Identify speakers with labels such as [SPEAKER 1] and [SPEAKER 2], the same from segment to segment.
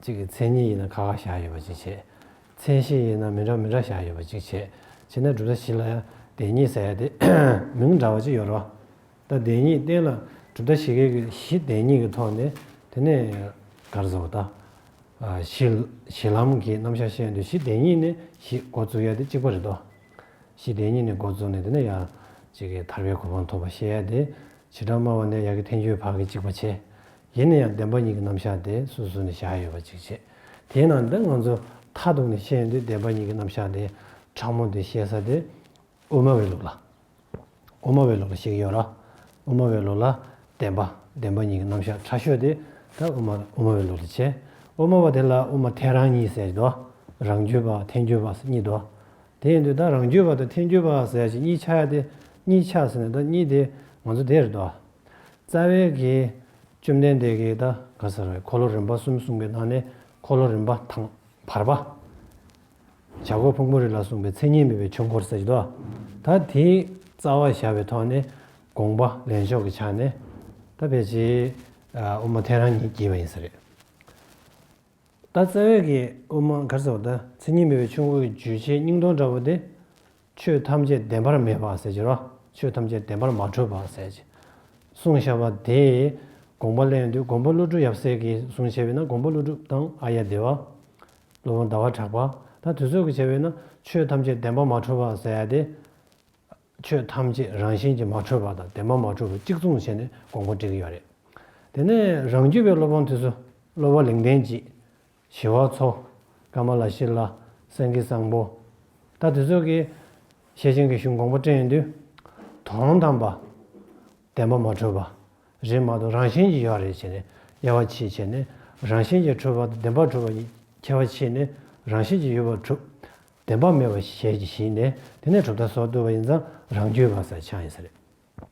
[SPEAKER 1] གཅིག་གི་མཚན་ཉིད་ཡིན་ན་ཁ་ཁ་བཞག་ཡོད་པ་གཅིག་བྱེད། མཚན་ཤེས་ཡིན་ན་མི་འདྲ་མི་འདྲ་བཞག་ཡོད་པ་གཅིག་བྱེད། བྱེད་ན་གྲུབ་མཐའ་བཞི་ལ་ཡང་བདེན་གཉིས་ཟེར་ཡ་དེ། མིང་འདྲ་བ་གཅིག་ཡོད་རོགས། ད་བདེན་གཉིས་བསྟན་ལ་གྲུབ་མཐའ་བཞི་གེགས་བཞི་བདེན་གཉིས་ཀྱི་ཐོག་ནས་དེ་ནས་གར་བཟོ་བ་ད། བཞི། བཞི་ལམ་གྱི་རྣམ་གཞག་བཤད་འདོད་བཞི་བདེན་གཉིས་ནས་བཞི་འགོ་བཙུགས་ཡ་དེ་གཅིག་པ་རེད་དོ། བཞི་བདེན་གཉིས་ནས་འགོ་བཙུགས་ནས་དེ་ནས་ཡང་གཅིག་གི་ཐར་པའི་གོ་འཕང་ཐོབ་པ་བཤད་ཡ་དེ། བྱེ་བྲག་སྨྲ་བ་ནས་ཡ་གི་ཐན་སྐྱོའི་བར་གྱི་གཅིག་པ་བྱེད། ཡིན་ན་ཡང་བདེན་པ་གཉིས་ཀྱི་རྣམ་གཞག་དེ་སོ་སོ་ནས་བཞག་ཡོད་པ་ཅིག་བྱེད། དེས་ན་འདི་ང་ཚོས་མཐའ་གཏུགས་ནས་བཤད་ཡོན་ཏན་བདེན་པ་གཉིས་ཀྱི་རྣམ་གཞག་དེ་ཕྲ་མོ་དེ་བཤད་ས་དེ་དབུ་མ་བའི་ལུགས་ལ། དབུ་མ་བའི་ལུགས་ལ་ཞིག་ཡོད་ལ། དབུ་མ་བའི་ལུགས་ལ་བདེན་པ་བདེན་པ་གཉིས་ཀྱི་རྣམ་གཞག་ཕྲ་ཤོས་དེ་ད་དབུ་མ་དབུ་མ་བའི་ལུགས་ལ་བྱེད། དབུ་མ་བ་དེ་ལ་དབུ་མ་ཐལ་རང་གཉིས་ཟེར་དོ། རང་རྒྱུད་པ་ཐལ་འགྱུར་བ་ཟེར་གཉིས་དོ། དེ་ཡིན་དུས་ད་རང་རྒྱུད་པ་དང་ཐལ་འགྱུར་བ་ཟེར་ཅིག་གཉིས་ཆ་ཡ་དེ་གཉིས་ཆ་ཟེར་ན་ད་གཉིས་དེ་ང་ཚོ་དེ་རེད་དོ། རྩ་བའི་གེགས། བཅོམ་ལྡན་འདས་གེགས་དང་ག་ས་རཱའི་འཁོར་ལོ་རིམ་པ་གསུམ་གསུངས་པའི་ནང་ནས་འཁོར་ལོ་རིམ་པ་དང་བར་པ། བྱ་རྒོད་ཕུང་པོ་རེ་ལ་གསུངས་པའི་མཚན་ཉིད་མེད་པའི་ཆོས་འཁོར་ཟེར་གྱི་འདུག་ད་དེའི་རྩ་བ་བཞག་པའི་ཐོག་ནས་དགོངས་པ་ལེན་ཕྱོགས་ཀྱི་ཆ་ནས་ད་ཕལ་ཆེར་དབུ་མ་ཐལ་རང་ཉིད་ཀྱིས་བ་ཡིན་ས་རེད། ད་རྩ་བའི་གེགས་དབུ་མ་ག་ས་བ་ད་མཚན་ཉིད་མེད་པའི་ཆོས་འཁོར་གྱི་བརྗོད་བྱའི་སྙིང་སྟོང་འདྲ་བོ་དེ་ཆོས་ཐམས་ཅད་བདེན་པར་མེད་པར་ཟད་ཀྱི་རོ། ཆོས་ཐམས་ཅད་བདེན་པར་མ་གྲོལ་བར་ཟད་ཀྱི། གསུང་བྱ་བ་དེས་དགོངས་པ་གླེང་དུས་མགོན་པོ་ཀླུ་སྒྲུབ་ཡབ་སྲས་ཀྱིས་གསུང་བྱས་པས་ན་མགོན་པོ་ཀླུ་སྒྲུབ་དང་ཨ་ཡ་དེ་བ། ཀླུ་བོང་ཟླ་བ་གྲགས་པ་དང་དུས་ཚོད་ཀྱི་བྱ་བས་ན་ཆོས་ཐམས་ཅད་བདེན་པར་མ་གྲོལ་བར་ཟད་དེ། ཆོས་ཐམས་ཅད་རང་བཞིན་གྱིས་མ་གྲོལ་བ་དང་བདེན་པར་མ་གྲོལ་བ་གཅིག་མཚུངས་བྱས་ནས་དགོངས་པ་བྲིས་ཀྱི་ཡོད་རེད། དེ་ནས་རང་རྒྱུད་པའི་སློབ་དཔོན་དུས་སུ་སློབ་བ་ལིང་བསྟན་གྱིས། ཞི་བ་འཚོ། ཀ་མ་ལ་ཤི་ལ། སེང་གེ་བཟང་པོ། ད་དེ་ཚོད་ཀྱིས། ཞེས་བྱིན་གྱིས་གཞུང་གོང་པོ་སྤྲད་ཡོང་དུས། དོ་རུང་དམ་པ། བདེན་པ་མ་འཁྲུལ་པ། རིག་མ་དོ་རང་བཞིན་གྱིས་ཡོད་རེད་བྱས་ནས་དབྱེ་བ་ཕྱིས་བྱས་ནས་རང་བཞིན་གྱིས་འཁྲུལ་པ་དང་བདེན་པར་འཁྲུལ་པ་གཉིས་ཁྱད་པ་ཕྱིས་ནས་རང་བཞིན་གྱིས་ཡོད་པར་གྲུབ། བདེན་པ་མེད་པ་ཞལ་གྱིས་བཞེས་ནས་དེ་ནས་གྲུབ་མཐའ་སོགས་བཏུ་བ་ཡིན་ཙང་རང་རྒྱུད་བར་སར་ཆགས་ཡིན་ས་རེད།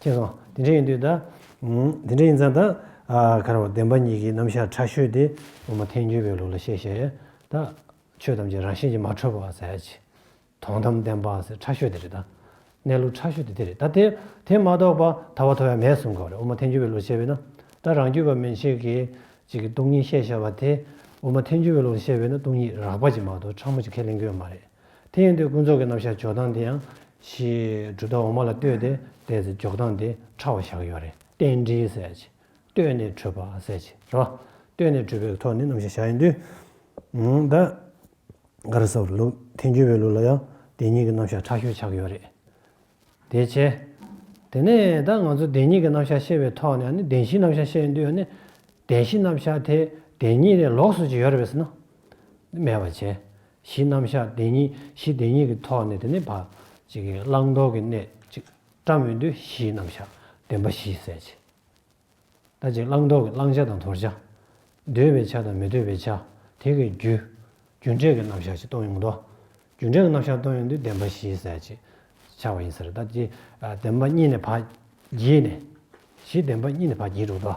[SPEAKER 1] ཁྱེད་རང་དེ་འདྲ་ཡིན་དུས་ད། དེ་འདྲ་ཡིན་ཙང་ད། ཁ་རོག་བདེན་པ་ཉིད་ཀྱི་རྣམ་གཞག་ཕྲ་ཤོས་དེ་ངོ་མ་ཐལ་འགྱུར་བའི་ལུགས་ལ་བཤད་ཤེས་རེད་ད། ཆོས་ཐམས་ཅད་རང་བཞིན་གྱིས་མ་གྲུབ་པ་ཟེར་གྱི། དོན་དམ་བདེན་པ་ཟེར་ཕྲ་ཤོས་དེ་རེད་ད། གནས་ལུགས་ཕྲ་ཤོས་དེ་དེ་རེད་ད་དེ། དེ་མ་གཏོགས་པ་ད་བ་ཐོ་ཡང་མེད་གསུང་གི་རེད་འོ་མ་ཐལ་འགྱུར་བའི་ལུགས་བཤད་པས་ན། ད་རང་རྒྱུད་པ་མན་ཆད་ཀྱིས་གཅིག་གི་སྟོང་ཉིད་བཤད་བཞག་པ་དེ། འོ་མ་ཐལ་འགྱུར་བའི་ལུགས་ལ་བཤད་པས་ན་སྟོང་ཉིད་རགས་པ་གཅིག་མ་གཏོགས་ཕྲ་མོ་གཅིག་ཁས་ལེན་དགོས་ཡོད་མ་རེད། དེ་ཡིན་དུས་ཀུན་རྫོབ་ཀྱི་རྣམ་གཞག་འཇོག་སྟངས་འདི་ཡང་གཞིའི་གྲུབ་མཐའ་འོག་མ་ལ་ལྟོས་ཏེ་བལྟས་ཚེ་འཇོག་སྟངས་འདི་ཕྲ་བ་བཞག་ཡོད་རེད་རྟེན་འབྲེལ་ཟེར་ཡ་ཆེ། ལྟོས་ནས་གྲུབ་པ་ཟེར་ཆེ་རེད། ལྟོས་ནས་གྲུབ་པའི་གི་ཐོག་ནས་རྣམ་གཞག་བཞག་ཡིན་དུས། ད་ག་རེ་སོགས་ལུགས་ཐེན་འགྱུར་བའི་ལུགས་ལ་ཡང་དེ་གཉིས་ཀྱི་རྣམ་གཞག་ཕྲ་ཤོས་ཆགས་ཡོད་རེད། དེ་ཆེ། དེ་ནས་ད་ང་ཚོ་དེ་གཉིས་ཀྱི་རྣམ་གཞག་བཤད་པའི་ཐོག་ནས་ནི་བདེན་བཞིའི་རྣམ་གཞག་བཤད་ཡིན་དུས་ནི། བདེན་བཞི་རྣམ་གཞག་དེ་དེ་གཉིས་ལས་ལོགས་སུ་ཅིག་ཡོད་རེད་བས་ན། མེད་པ་བྱས། གཞི་རྣམ་གཞག་བདེན་གཉིས་གཞི་བདེན་གཉིས་ཀྱི་ཐོག་ནས་དེ་ནི་བག། བླང་དོར་གྱི་གནད། བཀྲ་མི་འདུལ་གཞིའི་རྣམ་གཞག་བདེན་པ་བཞི་གསལ་བྱེད། ད་ཅིག་བླང་དོར་གྱི་བླང་བྱ་དང་དོར་བྱ། འདོད་པའི་ཆ་དང་མི་འདོད་པའི་ཆ། དེ་གའི་རྒྱུ། རྒྱུ་འབྲས་ཀྱི་རྣམ་གཞག་ཅིག་སྟོན་ཡོང་དོ། རྒྱུ་འབྲས་ཀྱི་རྣམ་གཞག་སྟོན་ཡོང་དུས་བདེན་པ་བཞི་གསལ་བྱེད། ཆགས་པ་ཡིན་ཟེར་ད་ཅིག་བདེན་པ་གཉིས་ནས་བག། བགྱིས་ནས། གཞི་བདེན་པ་གཉིས་ནས་བག་བགྱིས་འགྲོ་དོ།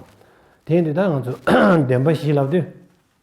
[SPEAKER 1] དེ་ཡིན་དུས་ད་ང་ཚོས་བདེན་པ་བཞི་ལབ་དུས།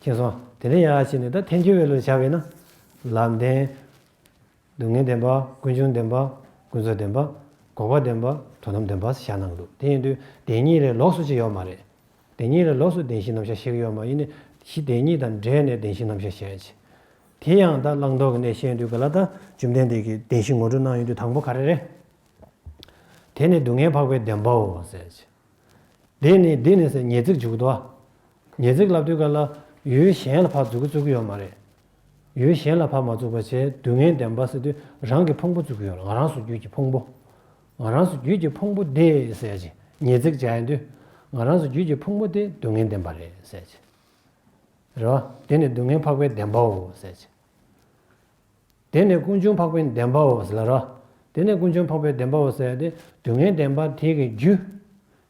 [SPEAKER 1] མཁྱེན་སོང། དེ་ནས་ཡང་ཕྱིན་ནས་ད་ཐེངས་བཅོ་བའི་ལོ་བྱ་བས་ན། ལམ་བདེན། སྡུག་བསྔལ་བདེན་པ། ཀུན་འབྱུང་བདེན་པ། ཀུན་རྫོབ་བདེན་པ། འགོག་པ་བདེན་པ། དོན་དམ་བདེན་པ་ཞེས་བྱ་རྣམས་འདུག་དེ་ཡིན་དུས་བདེན་གཉིས་ལས་ལོགས་སུ་ཅི་ཡོད་མ་རེད། བདེན་གཉིས་ལས་ལོགས་སུ་བདེན་བཞི་རྣམ་གཞག་ཞིག་ཡོད་མ་ཡིན་ནི་གཞི་བདེན་གཉིས་དང་འདྲེས་ནས་བདེན་བཞི་རྣམ་གཞག་བྱེད། དེ་ཡང་ད་བླང་དོར་གྱི་གནད་ཤེས་དུས་ག་ལ་ད་བཅོམ་ལྡན་འདས་ཀྱིས་བདེན་བཞི་ངོ་སྤྲོད་གནང་ཡོད་དུས་དང་པོ་ག་རེ་རེད། དེ་ནི་སྡུག་བསྔལ་འཕགས་པའི་བདེན་པའོ། དེ་ནི་འདི་ནས་ཉེས་ཚིག་འཇུག་དོ། ཉེས་ཚིག་ལབ་དུས་ག་ལ་ཡུལ་གཞན་ལ་བག་འཛུགས་ཀྱི་བཙུགས་ཀྱི་ཡོད་མ་རེད། ཡུལ་གཞན་ལ་བག་མ་བཙུགས་པ་ཆེས་སྡུག་བསྔལ་ལྡན་པ་ཟེར་དུས་རང་གི་ཕུང་པོ་བཙུགས་ཀྱི་ཡོད་ལ་ང་རང་སུ་རྒྱུད་ཀྱི་ཕུང་པོ། ང་རང་སུ་རྒྱུད་ཀྱི་ཕུང་པོ་དེ་ཟེར་གྱི་ཉེས་ཚིག་བྱ་ཡི་དུས་ང་རང་སུ་རྒྱུད་ཀྱི་ཕུང་པོ་དེ་སྡུག་བསྔལ་ལྡན་པ་རེད་ཟེར་གྱི་རེད་བ། དེ་ནི་སྡུག་བསྔལ་འཕགས་པའི་བདེན་པའོ་ཟེར་གྱི། དེ་ནས་ཀུན་འབྱུང་འཕགས་པའི་བདེན་པའོ། ལར་རོ། དེ་ནས་ཀུན་འབྱུང་འཕགས་པའི་བདེན་པའོ་ཟེར་བ་དེ་སྡུག་བསྔལ་བདེན་པ་དེ་གི་རྒྱུ།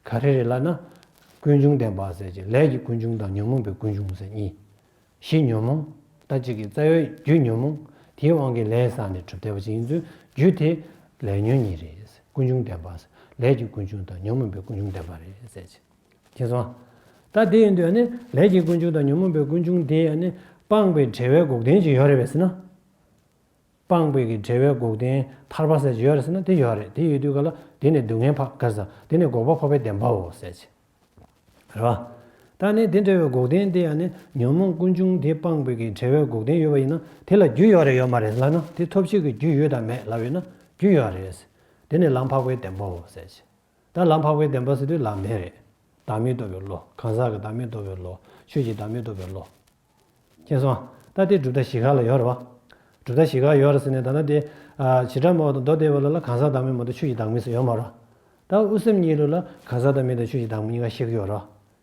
[SPEAKER 1] ག་རེ་རེད་ལ་ན། ཀུན་འབྱུང་བདེན་པ་ཟེར་གྱི་ལས་ཀྱི་ཀུན་འབྱུང་དང་ཉོན་མོངས་པའི་ཀུན་འབྱུང་ཟེར་གཉིས། གཞི་ཉོན་མོངས་ལྟ་ཅི་གི་རྩ་བའི་རྒྱུ་ཉོན་མོངས་དེའི་དབང་གིས་ལས་བསགས་ནས་གྲུབ་བདེ་བ་ཅིག་ཡིན་ཚུལ་རྒྱུ་དེ། ལས་ཉོན་གཉིས་རེད། ཀུན་འབྱུང་བདེན་པ། ལས་ཀྱི་ཀུན་འབྱུང་དང་ཉོན་མོངས་པའི་ཀུན་འབྱུང་བདེན་པ་རེད་ཟེར་གྱི། ཅེས་སོ། ད་དེ་ཡིན་དུས་ནི་ལས་ཀྱི་ཀུན་འབྱུང་དང་ཉོན་མོངས་པའི་ཀུན་འབྱུང་དེ་ཡང་ནི་སྤངས་པའི་བྲལ་བའི་འགོག་བདེན་གྱི་ཡོད་རེད་བས་ཟེར་ན། སྤངས་པའི་གི་བྲལ་བའི་འགོག་བདེན་ཐར་པ་ཟེར་གྱི་ཡོད་རེད་ཟེར་ན་དེ་ཡོད་རེད་དེ་ཡོད་དུས་ག་ལ་དེ་ནི་སྡུག་བསྔལ་འཕགས་དཀའ་ས་དེ་ནི་འགོག་པ་འཕགས་པའི་བདེན་པའོ་ཟེར་གྱི་རེད་བ། ད་ནི་དེ་འདྲ་བའི་འགོག་བདེན་དེ་ཡང་ནི་ཉོན་མོངས་ཀུན་འབྱུང་དེ་སྤངས་པའི་གི་བྲལ་བའི་འགོག་བདེན་ཡོད་བ་ཡིན་ན་དེ་ལ་རྒྱུ་ཡོད་རེད་ཡོད་མ་རེད་ལབ་ན་དེ་ཐོབ་བྱེད་ཀྱི་རྒྱུ་ཡོད་དམ་མེད་ལབ་ཡོད་ན་རྒྱུ་ཡོད་རེད། དེ་ནི་ལམ་འཕགས་པའི་བདེན་པའོ་ཟེར་གྱི་བདག་ལམ་འཕགས་པའི་བདེན་པ་སྲིད་པའི་ལམ་བདེན་རེད། བདག་མེད་རྟོགས་པའི་བློ། གང་ཟག་གི་བདག་མེད་རྟོགས་པའི་བློ། ཆོས་ཀྱི་བདག་མེད་རྟོགས་པའི་བློ། མཁྱེན་སོང། ད་དེ་གྲུབ་མཐའ་བཞི་ག་ལ་ཡོད་རེད་བ། གྲུབ་མཐའ་བཞི་ག་ཡོད་རེད་ཟེར་ནས་ད་ནི་དེ། བྱེ་བྲག་མ་འོག་ཏུ་མདོ་སྡེ་བའི་བློ་ལ་གང་ཟག་བདག་མེད་མ་གཏོགས་ཆོས་ཀྱི་བདག་མེད་ཟེར་ཡོད་མ་རེད། ད་དབུ་སེམས་གཉིས་ལུགས་ལ་གང་ཟག་བདག་མེད་དང་ཆོས་ཀྱི་བདག་མེད་གཉིས་ཀ་གཤེགས་ཀྱི་ཡོད་རེད།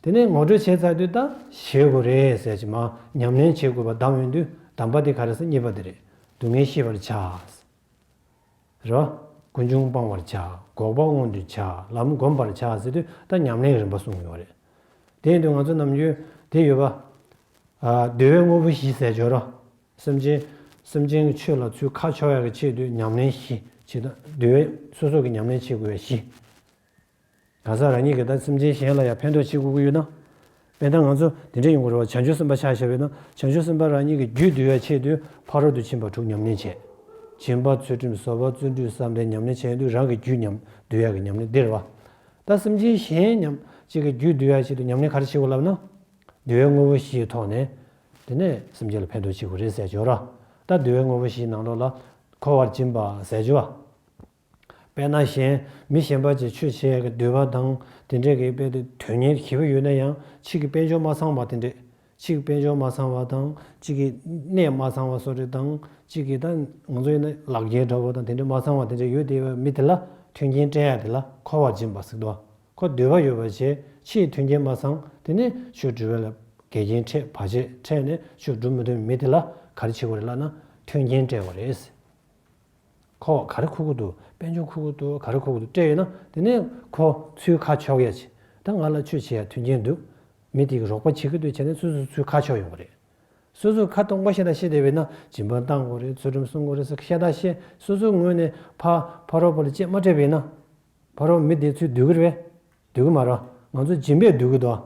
[SPEAKER 1] དེ་ནས་ངོ་སྤྲོད་བྱས་ཚར་དུས་ད་བྱེད་དགོས་རེད་ཟེར་གྱི་མ་ཉམས་ལེན་བྱེད་དགོས་པ་གདམས་ཡོང་དུས་གདམས་པ་དེ་ག་རེ་ཟེར་གཉིས་པ་དེ་རེད་སྡུག་བསྔལ་ཤེས་པར་བྱ། རེ་བ། ཀུན་འབྱུང་སྤང་བར་བྱ། འགོག་པ་མངོན་དུ་བྱ། ལམ་བསྒོམ་པར་བྱ་ཟེར་དུས་ད་ཉམས་ལེན་རིམ་པ་གསུངས་ཡོང་རེད། དེ་ཡིན་དུས་ང་ཚོ་ནམ་རྒྱུན་དེ་ཡོད་པ། བདེ་བའི་དངོས་པོ་བཞི་ཟས་སྦྱོར་རོ། སེམས་ཅན། སེམས་ཅན་གྱི་ཆོས་ལ་ཚུལ་ཁ་ཕྱོགས་ཡག་གི་ཆེད་དུ་ཉམས་ལེན་བཞི་བྱེད། བདེ་བའི་སོ་སོ་གི་ཉམས་ལེན་བྱེད་དགོས་པའི་བཞི། གང་ཟག་རང་ཉིད་ཀྱི་དང་སེམས་ཅན་གཞན་ལ་ཡང་ཕན་འདོགས་བྱེད་དགོས་ཀྱི་ཡོད་ན། དཔེར་ན་ང་ཚོ་འདི་འདྲ་ཡིན་དགོས་རེད་བ་བྱང་ཆུབ་སེམས་དཔའ་ཕྱག་བྱ་བས་ན་བྱང་ཆུབ་སེམས་དཔའ་རང་ཉིད་ཀྱི་རྒྱུད་བསྡུ་བའི་ཆེད་དུ་ཕ་རོལ་ཏུ་ཕྱིན་པ་དྲུག་ཉམས་ལེན་བྱེད། སྦྱིན་པ་ཚུལ་ཁྲིམས་གསོལ་བ་བརྩོན་འགྲུས་བསམ་གཏན་ཉམས་ལེན་བྱེད་ཡོན་དུ་རང་གི་རྒྱུད་ཉམས་བསྡུ་བྱ་གི་ཉམས་ལེན་འདིར་བ་དང་སེམས་ཅན་གཞན་ཉམས་ཅིག་གི་རྒྱུད་བསྡུ་བའི་ཆེད་དུ་ཉམས་ལེན་ག་རེ་བྱེད་དགོས་ལབ་ན། བསྡུ་བའི་དངོས་པོ་བཞིའི་ཐོག་ནས། དེ་ནས་སེམས་ཅན་ལ་ཕན་འདོགས་བྱེད་དགོས་རེད་ཟས་སྦྱོར་ར་ལྟ་བསྡུ་བའི་དངོས་པོ་བཞིའི་ནང་དོགས་ལ་འཁོར་བར་སྦྱིན་པ་ཟས་སྦྱོར་བ། དཔེར་ན་གཞན་མི་གཞན་པ་ཅིག་ཆོས་བྱེད་ཀྱི་འདོད་པ་དང་དེ་འདྲས་ཀྱི་དཔེ་དེ་དོན་གཉེར་གྱི་བུ་ཡོད་ན་ཡང་ཕྱིས་ཀྱི་དཔེ་འཇོག་མ་ཚང་བ་དེ་འདྲས་ཕྱིས་ཀྱི་དཔེ་འཇོག་མ་ཚང་བ་དང་ཕྱིས་ཀྱི་གནས་མ་ཚང་བ་སོགས་རེ་དང་ཕྱིས་ཀྱི་ད་ང་ཚོ་ཡིན་ན་ལག་འགྱེལ་འདྲ་བོ་དང་དེ་འདྲས་མ་ཚང་བ་དེ་འདྲས་ཡོད་དེ་བས་མི་དེ་ལ་མཐུན་རྐྱེན་སྤྲད་ཡ་དེ་ལ་འཁོར་བར་སྦྱིན་པ་སིག་དོག་གོ་འདོད་པ་ཡོད་པ་བྱས་ཕྱིས་མཐུན་རྐྱེན་མ་ཚང་དེ་ནས་ཆོས་འབྲི་བའི་ལ་འགལ་རྐྱེན་འཕྲད་བར་ཆད་འཕྲད་ནས་ཆོས་སྒྲུབ་མི་ཐུབ་མི་དེ་ལ་ག་རེ་བྱེད་དགོས་རེད་ལགས་ན་མཐུན་རྐྱེན་སྤྲད་པ་རེད། ཁོ་ག་རེ་ཁུ་ཁུ་འདུག་དཔལ་འབྱོར་ཁུ་ཁུ་འདུག་ག་རེ་ཁུ་ཁུ་འདུག་སྤྲད་ཡོད་ན་དེ་ནས་ཁོ་ཚུལ་ཁ་ཕྱོགས་ཡས་བྱས་ད་ང་ལ་ཆོས་བྱེད་ཡ་མཐུན་རྐྱེན་འདུག་མི་དེ་གི་རོགས་པ་བྱེད་གི་འདུག་བྱས་ནས་སོ་སོའི་ཚུལ་ཁ་ཕྱོགས་ཡོང་གི་རེད། སོ་སོའི་ཁ་སྟོང་པ་ཤེས་ད་ཤེས་དེ་བས་ན་སྦྱིན་པ་གཏང་དགོས་རེད་ཚུལ་ཁྲིམས་སྲུང་དགོས་རེད་ཟེར་ཤེས་ད་ཤེས་སོ་སོའི་ངོས་ནས་ཕ་ཕ་རོགས་པ་ལ་ཅེས་མ་སྤྲད་པ་ཡིན་ན་ཕ་རོགས་མི་དེའི་ཚུལ་སྡུག་གི་རེད་སྡུག་གི་མ་རེད་ང་ཚོ་སྦྱིན་པས་སྡུག་གི་འདུག།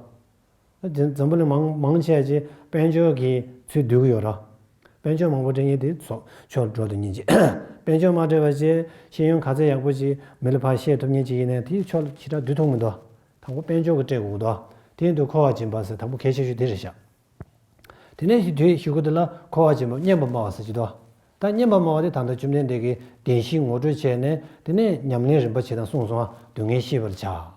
[SPEAKER 1] དེ་འཛམ་བུ་ལ་མང་མང་བྱས་རྗེས་དཔལ་འབྱོར་གྱི་ཚུལ་སྡུད་ཀྱི་ཡོད་ར། དཔལ་འབྱོར་མང་པོ་འབྲེལ་ཉིན་དེ་ཚོགས་ཆོག་འགྲོ་འདུག་ཉིན་གཅིག། དཔལ་འབྱོར་མ་འབྲེལ་བ་བཅས་ཤེས་ཡོན་ག་ཚད་ཡག་པོ་ཅིག་མི་ལ་ཕར་བཤད་ཐུབ་ཉིན་གཅིག་ཡིན་ནས་དེའི་ཕྱོགས་ལ་ཕྱི་དྲག་བསྡུས་ཐུབ་ངོ་འདོད། དང་པོ་དཔལ་འབྱོར་གྱི་སྤྲད་དགོས་འདོད། དེ་ཡིན་དུས་འཁོར་བ་སྦྱིན་པ་ཟེར་དང་པོ་གལ་ཆེ་ཤོས་དེ་རེད་བཞག། དེ་ནས་ཞིག་དུས་ཞིག་གོ་དེ་ལ་འཁོར་བ་སྦྱིན་པ་སྙན་པ་སྨྲ་བ་ཟེར་གྱི་འདུག་ད་སྙན་པ་སྨྲ་བ་དེ་ད་ལྟ་བཅོམ་ལྡན་འདས་ཀྱིས་བདེན་བཞི་ངོ་སྤྲོད་བྱས་ནས་དེ་ནས་ཉམས་ལེན་རིམ་པ་ཇི་ལྟར་གསུངས་སོང་བ་སྡུག་བསྔལ་ཤེས་པར་བྱ།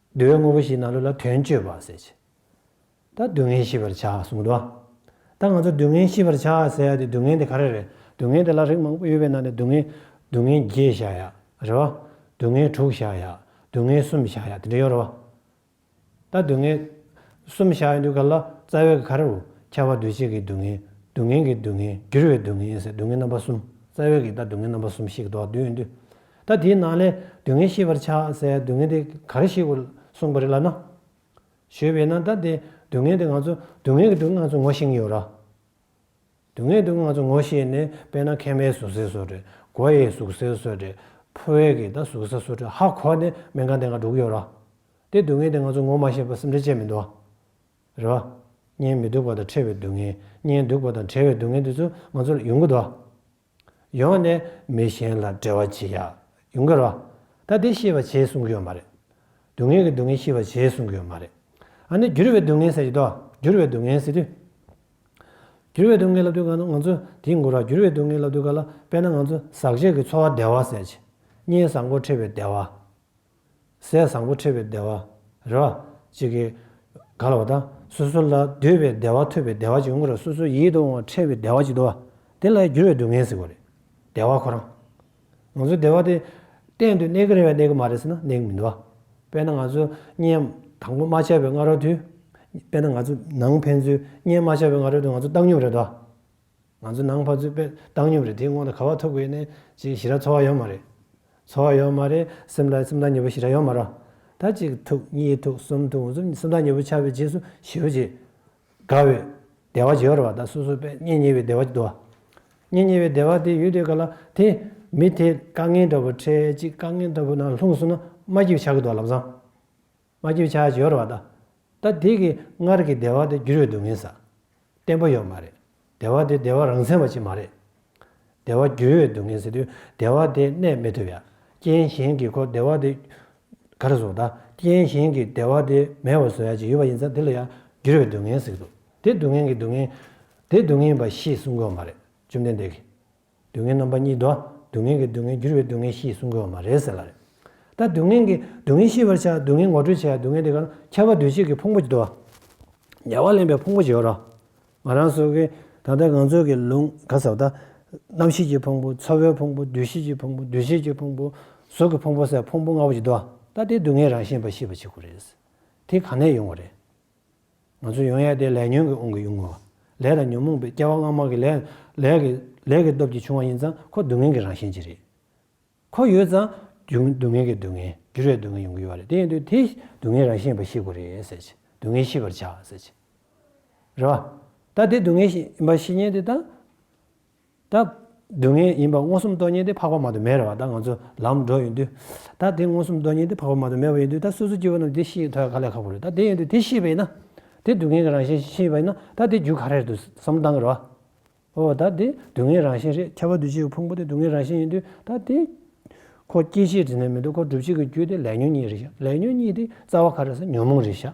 [SPEAKER 1] བསྡུ་བའི་དངོས་པོ་ཞིག་ན་ལུགས་ལ་དོན་སྤྱོད་པ་ཟེར་གྱི། ད་སྡུག་བསྔལ་ཤི་བར་བྱ་གསུངས་འགྲོ། ད་ང་ཚོ་སྡུག་བསྔལ་ཤི་བར་བྱ་ཟེར་ཡག་དེ་སྡུག་བསྔལ་དེ་ག་རེ་རེད་སྡུག་བསྔལ་དེ་ལ་རིགས་མང་པོ་ཡོད་པའི་ནང་ནས་སྡུག་བསྔལ། སྡུག་བསྔལ་བརྒྱད་བཞག་ཡག་རེད་བ། སྡུག་བསྔལ་དྲུག་བཞག་ཡག་སྡུག་བསྔལ་གསུམ་བཞག་ཡག་དེ་འདྲ་ཡོད་རེད་བ། ད་སྡུག་བསྔལ། གསུམ་བཞག་ཡོད་འདུག་ག་ལ་རྩ་བའི་ག་རེ་རུ་ཁྱད་པར་འདུས་བྱས་ཀྱི་སྡུག་བསྔལ། སྡུག་བསྔལ་གྱི་སྡུག་བསྔལ་འགྱུར་བའི་སྡུག་བསྔལ་ཟེར་སྡུག་བསྔལ་རྣམ་པ་གསུམ་རྩ་བའི་གིས་ད་སྡུག་བསྔལ་རྣམ་པ་གསུམ་ཞིག་གདོད་དུ་ཡོད་འདུག་ད་དེའི་ནང་ལས་སྡུག་བསྔལ་ཤེས་པར་བྱ་ཟེར་སྡུག་བསྔལ་དེ་ག་རེ་ཞིག་གོ་གསུངས་པ་རེད་ལབ་ན། ཞུས་པས་ན་ད་དེ་སྡུག་བསྔལ་དེ་ང་ཚོ་སྡུག་བསྔལ་གྱི་སྡུག་ང་ཚོ་ངོ་ཤེས་ཀྱི་ཡོད་ར། སྡུག་བསྔལ་གྱི་སྡུག་ང་ཚོ་ངོ་ཤེས་ནས་དཔེར་ན་ཁེན་པའི་ཟུག་གཟེར་སོགས་དྲོད་གོ་ཡའི་ཟུག་གཟེར་སོགས་དྲོད་ཕོ་བའི་གི་ད་ཟུག་གཟེར་སོགས་དྲོད་ཧ་གོ་ནས་སྨན་ཁང་དེ་འགའ་འགྲོ་གི་ཡོད་ར། དེ་སྡུག་བསྔལ་དེ་ང་ཚོ་ངོ་མ་ཤེས་པར་སེམས་ཁྲལ་བྱས་མི་འདུག་ར། གཉེན་མི་སྡུག་པ་དང་ཕྲད་པའི་སྡུག་བསྔལ་གཉེན་སྡུག་པ་དང་བྲལ་བའི་སྡུག་བསྔལ་དེ་ཚོ་ང་ཚོ་ལ་ཡོང་གི་འདུག་ར། ཡོང་ནས་མི་གཞན་ལ་འབྲེལ་བ་བྱེད་ཡག་ཡོང་གི་རོགས། ད་དེ་ཤེས་པ་བྱས་གསུང་གི་ཡོད་མ་རེད། སྡུག་བསྔལ་གྱི་སྡུག་བསྔལ་ཤེས་པ་བྱས་གསུང་གི་ཡོད་མ་རེད། ཨ་ནི་འགྱུར་བའི་སྡུག་བསྔལ་ཟེར་གྱི་འདུག་འགྱུར་བའི་སྡུག་བསྔལ་ཟེར་དུས། འགྱུར་བའི་སྡུག་བསྔལ་ལབ་དུས་གང་ན་ང་ཚོ་དེའི་མགོ་ར་འགྱུར་བའི་སྡུག་བསྔལ་ལབ་དུས་ག་ལ་དཔེར་ན་ང་ཚོ་ཟག་བཅས་ཀྱི་འཚོ་བ་བདེ་བ་ཟེར། གཉེན་བཟང་སྒོར་ཁྲལ་བའི་བདེ་བ། ཟས་བཟང་པོ་ཁྲེལ་བའི་བདེ་བ། རེ་བ། གཅིག་གིས། ག་ལ་བ་དང། སོ་སོ་ལ་འདོད་པའི་བདེ་བ་ཐོས་པའི་བདེ་བ་གཅིག་ངོ་རེ་སོ་སོའི་ཡིད་དུ་འོང་བ་ཁྲེལ་བའི་བདེ་བ་གཅིག་དུ་བ། དེ་ལ་འགྱུར་བའི་སྡུག་བསྔལ་ཟེར་བ་རེད། བདེ་བ་ཁོ་རང། ང་ཚོའི་བདེ་བ་དེ། གཏན་དུ་གནས་ཀྱི་རེད་བ་གནས་ཀྱི་མ་རེད་ཟེར་ན་གནས་ཀྱི་མི་འདུག་བ། དཔེར་ན་ང་ཚོ་གཉན། དང་པོ་རྨ་བྱ་བའི་སྔ་རོལ་དུ། དཔེར་ན་ང་ཚོ་ནང་ཕན་ཚུན་གཉན་རྨ་བྱ་བའི་སྔ་རོལ་དུ་ང་ཚོ་བཏང་སྙོམས་རེད་བ། ང་ཚོ་ནང་ཕར་ཚུར་པས་བཏང་སྙོམས་རེད་དེའི་སྔོན་ལ་ག་བ་ཐུག་དགོས་ནས་ཅིག་ཞི་ར་འཚོ་བ་ཡོད་མ་རེད། འཚོ་བ་ཡོད་མ་རེད་སེམས་ལ་སེམས་ཐག་ཉེ་པོ་ཞི་ར་ཡོད་མ་ར། ད་གཅིག་ཐུག་གཉིས་ཐུག་གསུམ་ཐུག་གསུམ་སེམས་ཐག་ཉེ་པོ་ཆགས་པའི་རྗེས་སུ་ཞི་བ་བྱེད། དགའ་བའི། བདེ་བ་བྱེད་ར་བ་ད་སོ་སོ་པས་གཉེན་ཉེ་བའི་བདེ་བ་འདུ་བ། གཉེན་ཉེ་བའི་བདེ་བ་དེ་ཡོད་དུས་ག་ལ་དེ། མི་དེ་དཀའ་ངལ་འདྲ་པོ་འཕྲད་ཅིག་དཀའ་ངལ་འདྲ་པོ་ནང་ལྷུང་སོང་ན་སྨྲ་སྐྱིད་བྱ་གི་འདུག་ལབ་བཟང། མ་རྒྱུ་ཆ་སྦྱོར་བ་དང། ད་དེ་གི་སྔར་གི་བདེ་བ་དེ་རྒྱུ་རུ་འདུག་མིན་ས། བརྟན་པོ་ཡོད་མ་རེད། བདེ་བ་དེ་བདེ་བ་རང་མཚན་བ་ཅིག་མ་རེད། བདེ་བ་རྒྱུ་ཡོད་འདུག་མིན་ཟེར་དུས་བདེ་བ་དེ་གནས་མི་ཐུབ་ཡ། རྐྱེན་གཞན་གི་ཁོ་བདེ་བ་དེ། ག་རེ་བཟུང་ད་རྐྱེན་གཞན་གི་བདེ་བ་དེ་མེད་བ་བཟུང་ཡ་ཅིག་ཡོད་པ་ཡིན་ཙང་དེ་ལ་ཡང་རྒྱུ་རུ་འདུག་མིན་ཟེར་གི་འདུག་དེ་སྡུག་བསྔལ་གྱི་སྡུག་བསྔལ། དེ་སྡུག་བསྔལ་བ་ཞེས་གསུང་དགོས་མ་རེད་བཅོམ་ལྡན་འདས་ཀྱིས། སྡུག་བསྔལ་རྣམ་པ་གཉིས་དོ། སྡུག་བསྔལ་གྱི་སྡུག་བསྔལ་འགྱུར་བའི་སྡུག་བསྔལ་ཞེས་གསུང་དགོས་པ་མ་རེད་ཟེར་བ་རེད། ད་སྡུག་བསྔལ་གྱི་སྡུག་བསྔལ་ཤེས་པར་བྱ། སྡུག་བསྔལ་ངོ་སྤྲོད་བྱས་ཡ་སྡུག་བསྔལ་དེ་ག་ལ་ཁྱད་པར་འདུས་བྱས་ཀྱི་ཕུང་པོ་དོ། ཉེ་བར་ལེན་པའི་ཕུང་པོ་བྱེད་རོགས། ང་རང་སོ་གི། ད་ལྟ་ང་ཚོ་གི་ལུང་ག་ཟབ་ད། རྣམ་ཤེས་ཀྱི་ཕུང་པོ་ཚོར་བའི་ཕུང་པོ་འདུས་བྱས་ཀྱི་ཕུང་པོ་འདུས་བྱས་ཀྱི་ཕུང་པོ། གཟུགས་ཀྱི་ཕུང་པོ་སའི་ཕུང་པོ་ལྔ་པོ་བྱེད་དོ། ད་དེ་སྡུག་བསྔལ་རང་བཞིན་པ་ཤེས་པ་བྱེད་དགོས་རེད། དེ་གང་ནས་ཡོང་བ་རེད། ང་ཚོས་ཡང་ཡང་དེ་ལས་ཉོན་གྱིས་དབང་གིས་དབྱུང་ངོ། ལས་དང་ཉོན་མོངས་པའི་སྐྱེ་བ་སྔ་མ་གི་ལས། ལས་ཀྱི་སྟོབས་ཀྱིས་བྱུང་བ་ཡིན་ཙང་ཁོ་སྡུག་བསྔལ་གྱི་རང་བཞིན་གྱིས་རེད། ཁོ་ཡོད་ཙང། སྡུག་བསྔལ་གྱི་སྡུག་བསྔལ། འགྱུར་བའི་སྡུག་བསྔལ་ཡོང་གི་ཡོད་རེད་དེ་ཡིན་དུས་དེ། སྡུག་བསྔལ་རང་བཞིན་ཡིན་པ་ཤེས་དགོས་རེད་ཟེར་གྱི། སྡུག་བསྔལ་ཤེས་པར་བྱ། ཟེར་གྱི། རེད་བ། ད་དེ་སྡུག་བསྔལ་ཡིན་པ་ཤེས་ཉེན་དེ་ད། ད། སྡུག་བསྔལ་ཡིན་པ་མངོན་སུམ་རྟོགས་ཉིན་དེ་འཕགས་པ་མ་དུ་མས་རེད་བ་ད་ང་ཚོ་ལམ་འགྲོ་ཡོང་དུས། ད་དེ་མངོན་སུམ་རྟོགས་ཉིན་དེ་འཕགས་པ་མ་དུ་མས་བ་ཡིན་དུས་ད་སོ་སོའི་སྐྱེ་བོ་རྣམས་དེ་ཤེས་ཐོད་ག་ལས་ཁག་པོ་རེད་ད་དེ་ཡིན་དུས་དེ་ཤེས་པ་ཡིན་ན། དེ་སྡུག་བསྔལ་གྱི་རང་བཞིན་ཤེས་པ་ཡིན་ན་ད་དེ་རྒྱུ་ག་རེ་རེད་དུས་བསམ་བློ་གཏང་གི་རེད་བ། འོ་ད་དེ་སྡུག་བསྔལ་རང་བཞིན་རེད་ཁྱད་པར་དུ་བྱེད་པའི་ཕུང་པོ་དེ་སྡུག་བསྔལ་རང་བཞིན་ཡིན་དུས་ད་དེ། ཁོ་སྐྱེ་མཆེད་དྲི་ནས་མི་འདུག་ཁོ་སྒྲུབ་བྱེད་ཀྱི་རྒྱུ་དེ་ལས་ཉོན་གཉིས་རེད་བཞག་ལས་ཉོན་གཉིས་དེ་རྩ་བ་ག་རེ་ཟེར་ཉོན་མོངས་རེད་བཞག།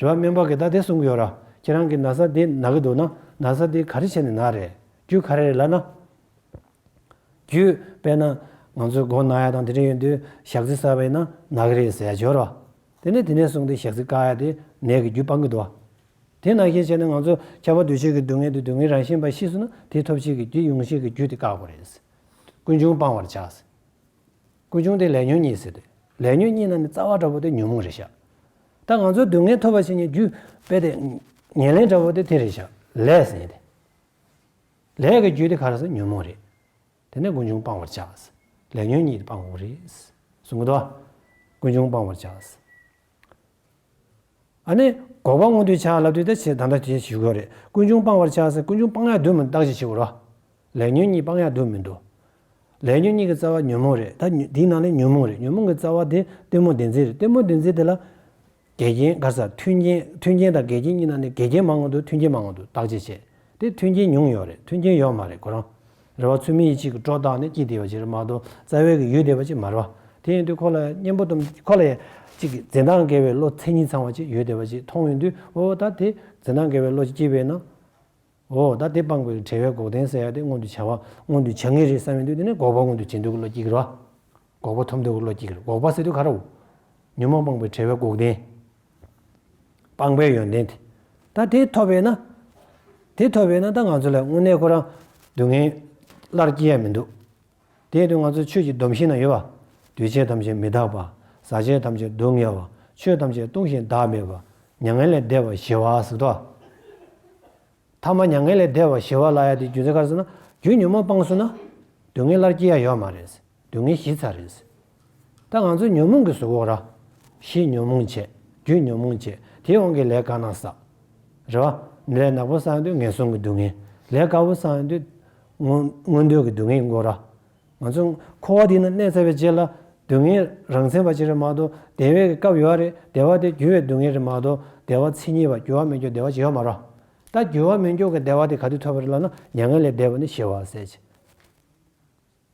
[SPEAKER 1] རེད། རེ་བ་སྨན་པ་གིས་ད་དེ་གསུང་གི་ཡོད་ར། ཁྱེད་རང་གིས་ན་བཟའ་དེ་ན་གི་འདུག་ན། ན་བཟའ་དེ་ག་རེ་བྱས་ནས་ན་རེད། རྒྱུ་ག་རེ་རེད་ལབ་ན། རྒྱུ། དཔེར་ན། ང་ཚོའི་སྒོ་ན་ཡ་དང་དེ་འདྲ་ཡོད་དུས་ཞག་རྩི་གསར་བ་ཡིན་ན་ན་གི་རེད་ཟེར་ཡ་འབྱོར་ར། དེ་ནས་དེ་ནས་བཟུང་སྟེ་ཞག་རྩི་བཀག་ཡ་དེ་ནད་ཀྱི་རྒྱུ་སྤང་གི་འདུག་ཨ། དེ་ན་ཤས་ཆེ་ན་ང་ཚོ་ཁྱབ་པ་འདུས་བྱས་ཀྱི་སྡུག་བསྔལ་དེ་སྡུག་བསྔལ་རང་བཞིན་པ་ཤི་སོང་ན་དེ་ཐོབ་བྱེད་ཀྱི་རྒྱུ་དབྱུང་བྱེད་ཀྱི་རྒྱུ་དེ་བཀག་པ་རེད། ཀུན་འབྱུང་སྤང་བར་བྱ། ཀུན་འབྱུང་དེ་ལས་ཉོན་གཉིས་ཟེར་ཏེ། ལས་ཉོན་གཉིས་ནང་ནས་རྩ་བ་འདྲ་བོ་དེ་ཉོན་མོངས་རེད་བཞག། ད་ང་ཚོའི་སྡུག་བསྔལ་ཐོབ་པ་ཕྱི་ཉིན་རྒྱུ་དཔེ་དེ། ཉེར་ལེན་འདྲ་བོ་དེ་དེ་རེད་བཞག་ལས་ཟེར་ཏེ། ལས་ཀྱི་རྒྱུ་དེ་ག་རེ་ཟེར་ཉོན་མོངས་རེད། དེ་ནས་ཀུན་འབྱུང་སྤང་བར་བྱ། ལས་ཉོན་གཉིས་དེ་སྤང་འོག་རེད། གསུངས་གི་འདུག་ཀུན་འབྱུང་སྤང་བར་བྱ། ཨ་ནི། འགོག་པ་སྔོན་དུས་ཆག་སླ་དུས་ད་ཆའི་ད་ལྟ་བྱེད་ཞུ་དགོས་རེད་ཀུན་འབྱུང་སྤང་བར་ཆགས་སེ་ཀུན་འབྱུང་སྤང་ཡག་དུས་མིན་བདག་བྱེད་ཞུ་རོགས། ལས་ཉོན་གཉིས་སྤང་ཡག་དུས་མིན་དུ། ལས་ཉོན་གཉིས་ཀྱི་རྩ་བ་ཉོན་མོངས་རེད་ད་དེའི་ནང་ལས་ཉོན་མོངས་རེད་ཉོན་མོངས་ཀྱི་རྩ་བ་དེ་སྟོན་མོ་བདེན་འཛིན་རེད་སྟོན་མོ་བདེན་འཛིན་དེ་ལ། འགལ་རྐྱེན་དགར་ས་མཐུན་རྐྱེན་མཐུན་རྐྱེན་དང་འགལ་རྐྱེན་གཉིས་ནང་ནས་འགལ་རྐྱེན་མང་བ་འདུག་མཐུན་རྐྱེན་མང་བ་འདུག་བདག་བྱེད་བྱས་ཏེ་མཐུན་རྐྱེན་ཉུང་ཡོད་རེད་མཐུན་རྐྱེན་ཡོད་མ་རེད་གོ་རང། རེ་བ་ཚུལ་མིན་ཡིད་བྱེད་ཀྱི་སྒྲོ་བཏགས་ནི་སྐྱིད་བདེ་བ་ཅིག་རེད་མ་གཏོགས་རྩ་བའི་གི་ཡུལ་བདེ་བ་ཅིག་མ་རེད་པ། དེ་ཡིན་དུས་ཁོ་ལ་གཉེན་པོ་དང་ཁོ་ལ་ཡང་ཅིག་གིས་འཛིན་སྟངས་འགལ་བའི་བློ་མཚན་ཉིད་ཚང་བ་ཅིག་ཡུལ་བདེ་བ་ཅིག་མཐོང་ཡོང་དུས་འོ་ད་དེ་འཛིན་སྟངས་འགལ་བའི་བློ་ཅིག་སྐྱེས་པས་ན། འོ་ད་དེ་སྤང་དགོས་ཀྱི་བྲལ་བའི་འགོག་བདེན་ཟེར་ཡག་དེ་མངོན་དུ་བྱ་བ་མངོན་དུ་བྱ་ངེས་རེད་བསམ་ཡོང་དུས་དེ་ནི་འགོག་པ་མངོན་དུ་བྱེད་འདོད་ཀྱི་བློ་སྐྱིད་རེད་བ། འགོག་པ་ཐོབ་འདོད་བློ་སྐྱེ་གིར་འགོག་པ་སེ་དུ་ག་ར་འོ། ཉོན་མོངས་སྤངས་པའི་བྲལ་བས་འགོག་བདེན། སྤངས་པའི་ཡོན་ཏན་དེ། ད་དེ་ཐོབ་བས་ན། དེ་ཐོབ་བས་ན་ད་ང་ཚོ་ལ་དངོས་གནས་ཁོ་རང་སྡུག་བསྔལ། སླར་སྐྱེ་ཡ་མི་འདུག། དེ་དུས་ང་ཚོ་ཆོས་ཀྱི་སྡོམ་ཤིང་ན་ཡོད་པ། འདུས་བྱས་ཐམས་ཅད་མི་རྟག་པ། བཟའ་བྱས་ཐམས་ཅད་སྡུག་བསྔལ་བ། ཆོས་ཐམས་ཅད་སྟོང་ཞིང་བདག་མེད་པ། མྱ་ངན་ལས་འདས་པ་ཞི་བ་ཟེར་ཏོ། ཐ་མ་མྱ་ངན་ལས་འདས་པ་ཞི་བ་ལ་ཡ་དེ་རྒྱུ་མཚན་ག་རེ་ཟེར་ན། རྒྱུ་ཉོན་མོངས་སྤངས་སོང་ན། སྡུག་བསྔལ་སླར་སྐྱེ་ཡ་ཡོད་མ་རེད་ཟེར། སྡུག་བསྔལ་ཞི་ཚར་རེད། ད་ང་ཚོ་ཉོན་མོངས་ཀྱི་ཟུག་འོག་ར། ཞེས་ཉོན་མོངས་བྱས། རྒྱུས་ཉོན་མོངས་བྱས། དེའི་དབང་གིས་ལས་དཀའ་ན་བསགས། རེ་བ། ལས་ནག་པོ་བསགས་དུས་ངན་སོང་གི་སྡུག་བསྔལ། ལས་དཀར་པོ་བསགས་དུས། མངོན་འདོད་ཀྱི་སྡུག་བསྔལ་གྱི་མགོ་ར། ང་ཚོ། འཁོར་བ་འདི་ན་གནས་ཚར་བའི་རྗེས་ལ། སྡུག་བསྔལ་རང་མཚན་པ་ཅིག་རེད་མ་གཏོགས་བདེ་བའི་སྐབས་ཡོད་རེད། བདེ་བ་དེ་རྒྱུ་བའི་སྡུག་བསྔལ་རེད་མ་གཏོགས་བདེ་བ་མཚན་ཉིད་པ་རྒྱུ་བ་མི་འགྱུར་བདེ་བ་ཅིག་ཡོད་མ་རོགས། ད་རྒྱུ་བ་མི་འགྱུར་གྱི་བདེ་བ་དེ་ག་དུས་ཐོབ་རེད་ལབ་ན་མྱ་ངན་ལས་འདས་པ་ནི་ཞི་བ་ཟད་ཅིང།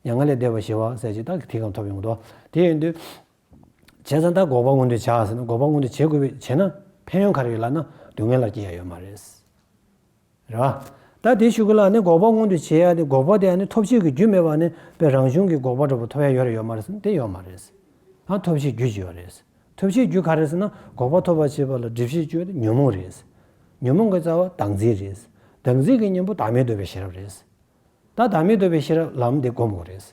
[SPEAKER 1] མྱ་ངན་ལས་འདས་པར་ཞི་བ་གསལ་བྱེད་རྟགས་ཀྱི་ཐིག་རྐང་ཐོབ་ཡོང་དོ། དེ་ཡོད་དུས། བྱས་ཙང་ད་འགོག་པ་མངོན་འདོད་བྱ་ཟེར་ན་འགོག་པ་མངོན་འདོད་བྱེད་དགོས་པས་བྱས་ན་ཕན་ཡོན་ག་རེ་ཡོད་ལགས་ན་སྡུག་བསྔལ་ལ་སྐྱེ་ཡ་ཡོད་མ་རེད། རེད་བ། ད་དེ་ཤོད་གི་ལགས་ནི་འགོག་པ་མངོན་འདོད་བྱེད་ཡ་དེ་འགོག་པ་དེ་ཡང་ནི་ཐོབ་བྱེད་ཀྱི་རྒྱུ་མེད་པ་ནི་པའི་རང་བྱུང་གི་འགོག་པ་འགྲོ་བ་ཐོབ་ཡ་ཡོད་རེད་ཡོད་མ་རེད་ཟེར་ན་དེ་ཡོད་མ་རེད། ཨ་ཐོབ་བྱེད་རྒྱུ་ཅི་ཡོད་རེད། ཐོབ་བྱེད་རྒྱུ་ག་རེད་ཟེར་ན་འགོག་པ་ཐོབ་པར་བྱེད་པ་ལ་སྒྲིབ་བྱེད་ཅུའི་ཉོན་མོངས་རེད། ཉོན་མོངས་ཀྱི་རྩ་བ་བདག་འཛིན་རེད། བདག་འཛིན་གྱི་གཉེན་པོ་བདག་མེད་འདོད་པའི་ཤེས་རབ་རེད། ད་བདག་མེད་འདོད་པའི་ཕྱིར་ལམ་འདི་བསྒོམ་དགོས་རེད།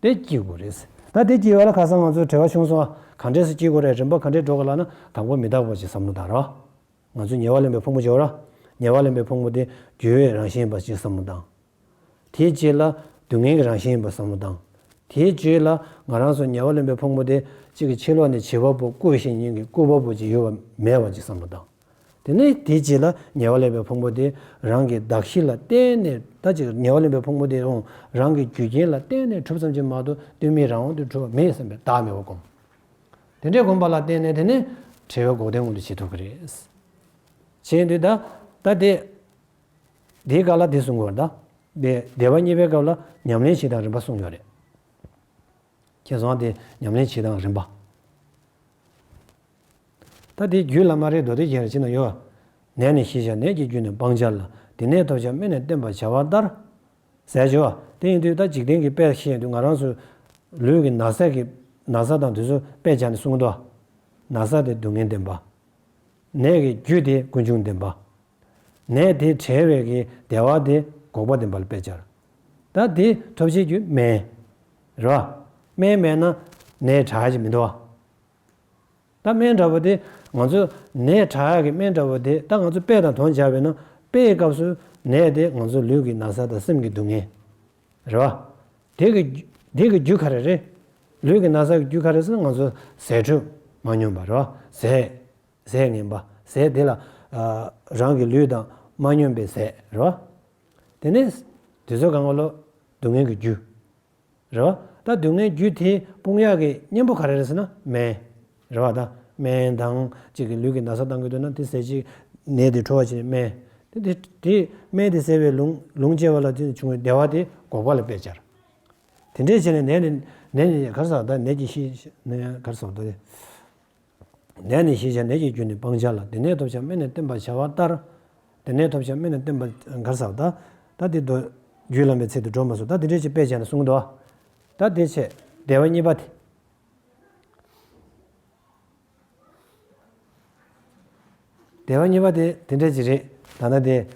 [SPEAKER 1] དེ་སྐྱིད་དགོས་རེད། ད་དེ་སྐྱིད་ཡོད་ལ་ཁ་སང་ང་ཚོའི་བྲེལ་བ་ཆུང་སོང་ཨ། གང་འདྲས་སུ་སྐྱིད་དགོས་རེད་རིམ་པ་གང་འདྲས་འགྲོ་དགོས་ལགས་ན་དང་པོ་མི་རྟག་པ་ཞིག་བསམ་བློ་བཏང་རོགས། ང་ཚོས་ཉེ་བར་ལེན་པའི་ཕུང་པོ་འཇོག་རོགས། ཉེ་བར་ལེན་པའི་ཕུང་པོ་དེ་རྒྱུ་བའི་རང་བཞིན་ཡིན་པ་ཞིག་བསམ་བློ་བཏང། དེའི་རྗེས་ལ་སྡུག་བསྔལ་གྱི་རང་བཞིན་ཡིན་པ་བསམ་བློ་བཏང། དེའི་རྗེས་ལ་ང་རང་སོགས་ཉེ་བར་ལེན་པའི་ཕུང་པོ་དེ་གཅིག་གི་ཕྱི་ལོགས་ནས་བྱིས་པ་པོ་བཀོད་བཞིན་ཉིན་གྱི་སྐུད་པ་པོ་ཅིག་ཡོད་པ་མེད་པ་ཅིག་བསམ་བློ་བཏང། དེ་ནས་དེ་རྗེས་ལ་ཉེ་བར་ལེན་པའི་ཕུང་པོ་དེ་རང་གི་གདགས་གཞི་ལ་བརྟེན་ནས་ད་ཅིག་ཉེ་བར་ལེན་པའི་ཕུང་པོ་དེ་ཡང་རང་གི་རྒྱུ་རྐྱེན་ལ་བརྟེན་ནས་གྲུབ་ཙམ་གྱིས་མ་གཏོགས་གཏོལ་མེད་རང་དབང་དུ་གྲུབ་པ་མེད་བསམ་པའི་བདག་མེད་པ་སྒོམ། དེ་འདྲའི་སྒོམ་པ་ལ་བརྟེན་ནས་དེ་ནི་བྲལ་བའི་འགོག་བདེན་མངོན་དུ་བྱེད་ཐུབ་ཀྱི་རེད། བྱས་འདི་ད་ལྟ་དེ། དེའི་སྐབས་ལ་དེ་གསུང་དགོས་པར་གདའ། དེ་བདེ་བ་གཉིས་པའི་སྐབས་ལ་ཉམས་ལེན་བྱེད་སྟངས་རིམ་པ་གསུངས་ཡོད་རེད། ཁྱེད་སོང་དེ་ཉམས་ལེན་བྱེད་སྟངས་རིམ་པ། ད་དེའི་རྒྱུད་བླ་མ་རེ་མདོ་སྡེ་རྒྱན་རེ་ཅི་ན་ཡོད། ནད་ནི་ཤེས་བྱ་ནད་ཀྱི་རྒྱུད་ནི་སྤང་བྱ་ལ་དེ་ནད་ཐོབ་བྱ་སྨན་ནི་བསྟེན་པར་བྱ་བ་ལྟར། ཟས་སྤྱོད་བ། དེ་ཡིན་དུས་ད་འཇིག་རྟེན་གྱི་དཔལ་ཤེས་དུས་ང་རང་སུ། ལུས་ཀྱི་ན་བཟས་ཀྱི། ན་བཟའ་དང་དུས་སུ་དཔེ་བྱ་ནི་གསུང་དུ། ན་བཟའ་དེ་སྡུག་བསྔལ་བདེན་པ། ནད་ཀྱི་རྒྱུད་དེ་ཀུན་འབྱུང་བདེན་པ། ནད་དེ་བྲལ་བའི་གྱི་བདེ་བ་དེ་འགོག་པ་བདེན་པ་ལ་དཔེ་བྱར། ད་དེ་ཐོབ་བྱའི་རྒྱུད་སྨན། རེ་བ། སྨན་མེད་ན་ནད་དྲག་ཅིང་མི་འདོར་བ། ད་སྨན་འདྲ་བོ་དེ་ང་ཚོས་ནད་དྲག་གི་སྨན་འདྲ་བོ་དེ་ད་ང་ཚོས་དཔེ་དང་དོན་སྦྱར་བས་ན་དཔེའི་སྐབས་སུ་ནད་དེ་ང་ཚོའི་ལུས་ཀྱི་ན་བཟའ་དང་སེམས་ཀྱི་སྡུག་བསྔལ་རེད་བ། དེ་གི་དེ་གི་རྒྱུ་ག་རེ་རེད། ལུས་ཀྱི་ན་བཟའ་གི་རྒྱུ་ག་རེ་ཟེར་ན་ང་ཚོ་ཟས་དྲོད་མ་སྙོམས་པ་རེད་བ། ཟས་ཟས་ངན་པ་ཟས་དེ་ལ་རང་གི་ལུས་དང་མ་སྙོམས་པའི་ཟས་རེད་བ། དེ་ནས་དེ་ཚོ་གང་གི་ལོ་སྡུག་བསྔལ་གྱི་རྒྱུ། རེ་བ་ད་སྡུག་བསྔལ་རྒྱུ་དེ་དཔུང་ཡག་གི་གཉེན་པོ་ག་རེ་རེད་ཟེར་ན་སྨན། རེ་བ་ད་སྨན་དང་གཅིག་གི་ལུས་ཀྱི་ན་ཚ་བཏང་གི་འདུག་ན་དེ་ཟས་ཅིག་ནད་དེ་གྲོལ་བར་བྱེད་སྨན། དེ་དེ་དེ་སྨན་དེ་ཟས་པའི་ལུང་ལུང་བཅད་པ་ལ་དེ་བྱུང་བའི་བདེ་བ་དེ་འགོག་པ་ལ་དཔེ་སྦྱར། དེ་འདྲས་བྱས་ནས་ནད་ནི་ནད་ནི་གར་ཟག་ད་ནད་ཀྱི་ཤི་ནི་གར་ཟག་ད། ནད་ནི་ཤེས་བྱ་ནད་ཀྱི་རྒྱུ་ནི་སྤང་བྱ་ལ་དེ་ནས་ཐོབ་བྱ་སྨན་ནི་བསྟེན་པར་བྱ་བ་ལྟར། དེ་ནས་ཐོབ་བྱ་སྨན་ནི་བསྟེན་པར་བྱའོ། ད་དེ་དེ་ལྟོ། རྒྱུད་བླ་མའི་ཚིག་ཏུ་སྒྲོ་མ་སོགས་ད་དེ་འགྲེལ་བྱེད་དཔེ་བྱས་ན་གསུངས། ད་དེ་ཆད་བདེ་བ་གཉིས་པ་དེ། བདེ་བ་གཉིས་པ་དེ་དེ་འདྲ་ཅིག་རེད། ད་ནི་དེ།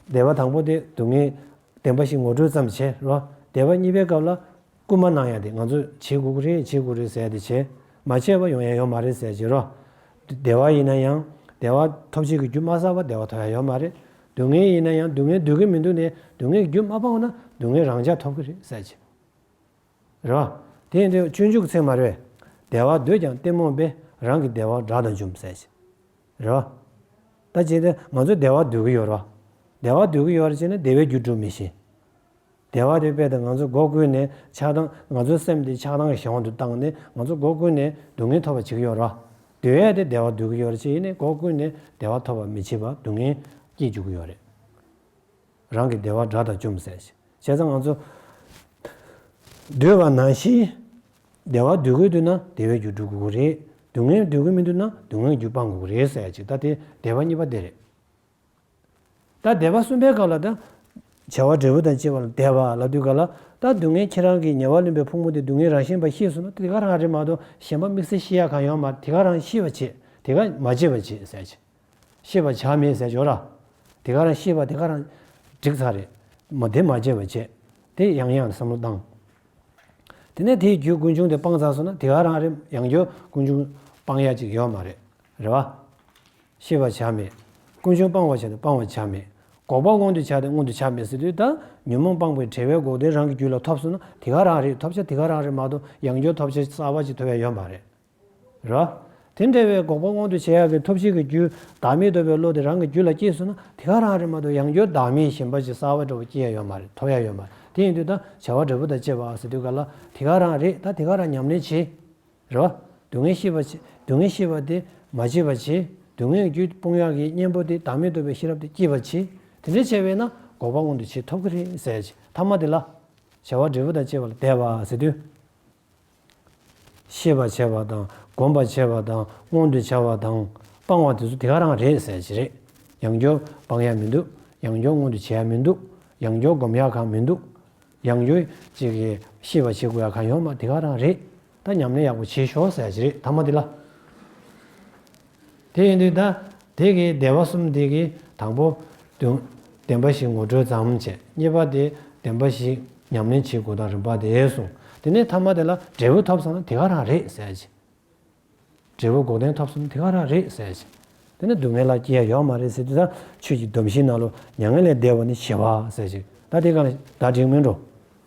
[SPEAKER 1] བདེ་བ་དང་པོ་དེ་སྡུག་བསྔལ། བདེན་པ་ཞིག་ངོ་སྤྲོད་ཙམ་བྱས་ལ། བདེ་བ་གཉིས་པའི་སྐབས་ལ། རྐུན་མ་ནང་ཡང་དེ་ང་ཚོས་བྱེད་དགོས་ཀྱི་རེད་བྱེད་དགོས་རེད་ཟེར་དེ་བྱས། མ་བྱས་པ་ཡོང་ཡ་ཡོད་མ་རེད་ཟེར་བྱེད་རོགས། བདེ་བ་ཡིན་ན་ཡང། བདེ་བ་ཐོབ་བྱེད་ཀྱི་རྒྱུ་མ་བསགས་པར་བདེ་བ་ཐོབ་ཡ་ཡོད་མ་རེད། སྡུག་བསྔལ་ཡིན་ན་ཡང་སྡུག་བསྔལ་སྡོད་ཀྱི་མི་འདུག་ནས་སྡུག་བསྔལ་གྱི་རྒྱུ་མ་སྤངས་ན་སྡུག་བསྔལ་རང་འཇགས་ཐོབ་ཀྱི་རེད་ཟེར་བྱེད། རེད། དེ་ཡིན་དུས་སྤྱོད་འཇུག་ཚིག་མ་རེད། བདེ་བ་འདོད་ཀྱང་གཏི་མུག་པས་རང་གི་བདེ་བ་དགྲ་དང་འཇོམས་ཟེར། རེད། ད་ཅིག་དེ་ང་ཚོ་བདེ་བ་འདོད་ཀྱི་ཡོད་རེད། བདེ་བ་འདོད་ཀྱི་ཡོད་རེད་ཅེ་ན་བདེ་བའི་རྒྱུ་སྒྲུབ་མི་ཤེས། བདེ་བ་དེ་དཔེ་དང་ང་ཚོ་སྒོ་ཀུན་ནས་ཆགས་སྡང་ང་ཚོའི་སེམས་དེ་ཆགས་སྡང་གི་གཞན་དབང་དུ་བཏང་ནས་ང་ཚོ་སྒོ་ཀུན་ནས་སྡུག་བསྔལ་ཐོབ་པ་བྱེད་ཀྱི་ཡོད་རེད། དེ་བས་དེ་བདེ་བ་འདོད་ཀྱི་ཡོད་རེད་ཅེ་ཡིན་ནས་སྒོ་ཀུན་ནས་བདེ་བ་ཐོབ་པ་མི་བྱེད་པར་སྡུག་བསྔལ་སྐྱེད་འཇུག་གི་ཡོད་རེད། རང་གི་བདེ་བ་དགྲ་དང་བཅོམ་ཟས་བྱེད། བྱས་ཙང་ང་ཚོ། འདོད་པ་ནང་བཞིན། བདེ་བ་འདོད་དགོས་དུས་ན་བདེ་བའི་རྒྱུ་སྒྲུབ་དགོས་རེད། སྡུག་བསྔལ་འདོད་དགོས་མི་འདུག་ན་སྡུག་བསྔལ་གྱི་རྒྱུ་སྤང་དགོས་རེད་ཟེར་ཡ་ཅིག་ད་དེ་བདེ་བ་གཉིས་པ་དེ་རེད། ད་བདེ་བ་གསུམ་པའི་སྐབས་ལ་ད། བྱ་བ་འབྲས་བུ་དང་བཅས་པ་ལ་བདེ་བ་ལ་དུས་འགའ་ལ། ད་སྡུག་བསྔལ་ཁྱེད་རང་གི་ཉེ་བར་ལོན་པའི་ཕུག་མོ་དེ་སྡུག་བསྔལ་རང་བཞིན་པ་ཤེས་སོང་ན་དེ་ག་རང་རེད་མ་གཏོགས་གཞན་པ་དམིགས་བསལ་ཤེས་ཡ་གང་ཡོང་མ་རེད་དེ་ག་རང་ཤེས་པ་བྱེད་དེ་ག་མ་བྱེད་པ་བྱེད་ཟེར་ཡ་ཅིག། ཤེས་པ་བྱར་མེད་ཟས་སྦྱོར་ར། དེ་ག་རང་ཤེས་པ་དེ་ག་རང། འགྲིག་ཚར་རེད། མོ་དེ་མ་བརྗེད་པར་བྱས། དེ་ཡང་ཡང་བསམ་བློ་བཏང། དེ་ནས་དེའི་རྒྱུད་ཀུན་འབྱུང་དེ་སྤང་ཚར་སོང་ན་དེ་ག་རང་རེད་ཡང་རྒྱུད་ཀུན་འབྱུང་སྤང་ཡ་ཅིག་ཡོད་མ་རེད། རེད་བ། ཤེས་པ་བྱར་མེད། ཀུན་འབྱུང་སྤང་བར་བྱ་སྟེ་སྤང་བར་བྱར་མེད། འགོག་པ་མངོན་དུ་བྱ་སྟེ་མངོན་དུ་བྱར་མེད་ཟེར་དུས་ད་ཉོན་མོངས་སྤངས་པའི་བྲལ་བས་འགོག་བདེན་རང་གི་རྒྱུད་ལ་ཐོབ་སོང་ན་དེ་ག་རང་རེད་ཐོབ་བྱ་དེ་ག་རང་རེད་མ་གཏོགས་ཡང་རྒྱུད་ཐོབ་བྱ་གསར་བ་ཅིག་ཐོབ་ཡ་ཡོད་མ་རེད། ར། དེ་འདྲ་བའི་འགོག་པ་དབང་དུ་བྱེད་ཡག་གི་ཐོབ་བྱེད་ཀྱི་རྒྱུ་བདག་མེད་འདོད་པའི་བློ་དེ་རང་གི་རྒྱུད་ལ་སྐྱེས་སོང་ན་དེ་ག་རང་རེད་མ་གཏོགས་ཡང་རྒྱུད་བདག་མེད་ཞེན་པ་ཅི་གསར་བ་འདྲ་བོ་སྐྱེས་ཡ་ཡོད་མ་རེད་ཐོབ་ཡ་ཡོད་མ་རེད་དེ་ཡིན་དུས་ད་བྱ་བ་འབྲས་བུ་དང་བཅས་པ་ཟེར་དུས་ག་ལ་དེ་ག་རང་རེད་ད་དེ་ག་རང་ཉམས་ལེན་བྱེད། ར། སྡུག་བསྔལ་ཤེས་པ་བྱེད་སྡུག་བསྔལ་ཤེས་པ་དེ་མ་བྱེད་པར་བྱེད་སྡུག་བསྔལ་གྱི་རྒྱུ་སྤོང་ཡག་གི་གཉེན་པོ་དེ་བདག་མེད་འདོད་པའི་ཤེས་རབ་དེ་སྐྱེས་པར་བྱེད་དེ་འདྲ་བྱས་པས་ན་འགོག་པ་དབང་དུ་བྱེད་ཐོབ་གི་རེད་ཟེར་ཅིག་ཐ་མ་དེ་ལ། བྱ་བ་འབྲས་བུ་དང་བཅས་པ་ལ་དད་པ་ཟེར་དུས། ཤེས་པར་བྱ་བ་དང་བསྒོམ་པར་བྱ་བ་དང་མངོན་དུ་བྱ་བ་དང་སྤང་བ་དེ་ཚོ་དེ་ག་རང་རེད་ཟེར་གྱི་རེད། ཡང་སྦྱོར་སྤང་ཡག་མི་འདུག་ཡང་སྦྱོར་མངོན་དུ་བྱེད་ཡག་མི་འདུག་ཡང་སྦྱོར་བསྒོམ་ཡག་གང་མི་འདུག་ཡང་སྦྱོར་ཅིག་གིས་ཤེས་པར་བྱེད་དགོས་ཡག་གང་ཡོང་མ་དེ་ག་རང་རེད། ད་ཉམས་ལེན་ཡག་པོ་བྱེད་ཤོག་ཟེར་གྱི་རེད་ད་མ་དེ་ལ། དེ་ཡིན་དུས་ད་དེ་གི་བདེ་བ་གསུམ་དེ་གི་དང་པོ། བདེན་པ་བཞི་ངོ་སྤྲོད་ཙམ་བྱས་གཉིས་པ་དེ་བདེན་པ་བཞི་ཉམས་ལེན་བྱེད་དགོས་དང་རིམ་པ་དེ་གསུངས་དེ་ནས་མཐའ་མ་དེ་ལ་འབྲས་བུ་ཐོབ་ཟེར་ན་དེ་ག་རང་རེད་ཟེར་གྱི། འབྲས་བུ་འགོག་བདེན་ཐོབ་ཟེར་ན་དེ་ག་རང་རེད་ཟེར་གྱི། དེ་ནས་སྡུག་བསྔལ་ལ་སྐྱེ་ཡ་ཡོད་མ་རེད་ཟེར་དུས་ད་ཆོས་ཀྱི་སྡོམ་བཞིའི་ནང་ལོ་མྱ་ངན་ལས་འདས་པ་ནི་བྱེད་པ་ཟེར་གྱི། ད་དེ་ག་ལ་ད་འགྲིག་མིན་འགྲོ།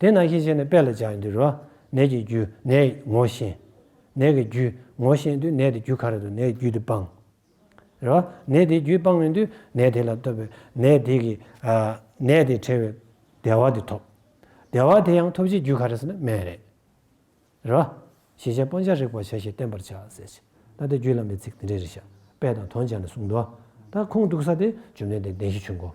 [SPEAKER 1] དེ་ནང་བཞིན་བྱས་ནས་དཔེ་ལ་སྦྱར་ཡང་འདིར་རོ། ནད་ཀྱི་རྒྱུ་ནད་ངོ་ཤེས། ནད་ཀྱི་རྒྱུ་ངོ་ཤེས་དུས་ནད་དེ་རྒྱུ་ག་རེ་དང་ནད་ཀྱི་རྒྱུ་དེ་སྤང། རེད་བ། ནད་དེའི་རྒྱུས་སྤང་མིན་དུས་ནད་དེ་ལ་ལྟོས་པའི་ནད་དེ་ཀྱི། ནད་དེ་བྲལ་བའི་བདེ་བ་དེ་ཐོབ། བདེ་བ་དེ་ཡང་ཐོབ་བྱེད་རྒྱུ་ག་རེ་ཟེར་ན་སྨན་རེད། རེད་བ། ཞེས་བྱ་སྤང་བྱ་རིག་པར་བྱ་ཞེས་བསྟན་པར་བྱ། ཟེར་ཞེས་ད་ལྟའི་རྒྱུད་བླ་མའི་ཚིག་འདི་འདྲའི་རིགས་ཞབས་པད་དང་དོན་བྱ་ནས་གསུངས། དོ། ད་ཁུངས་གཏུགས་ས་དེ་བཅོམ་ལྡན་འདས་བདེན་བཞི་ཆོས་འཁོར།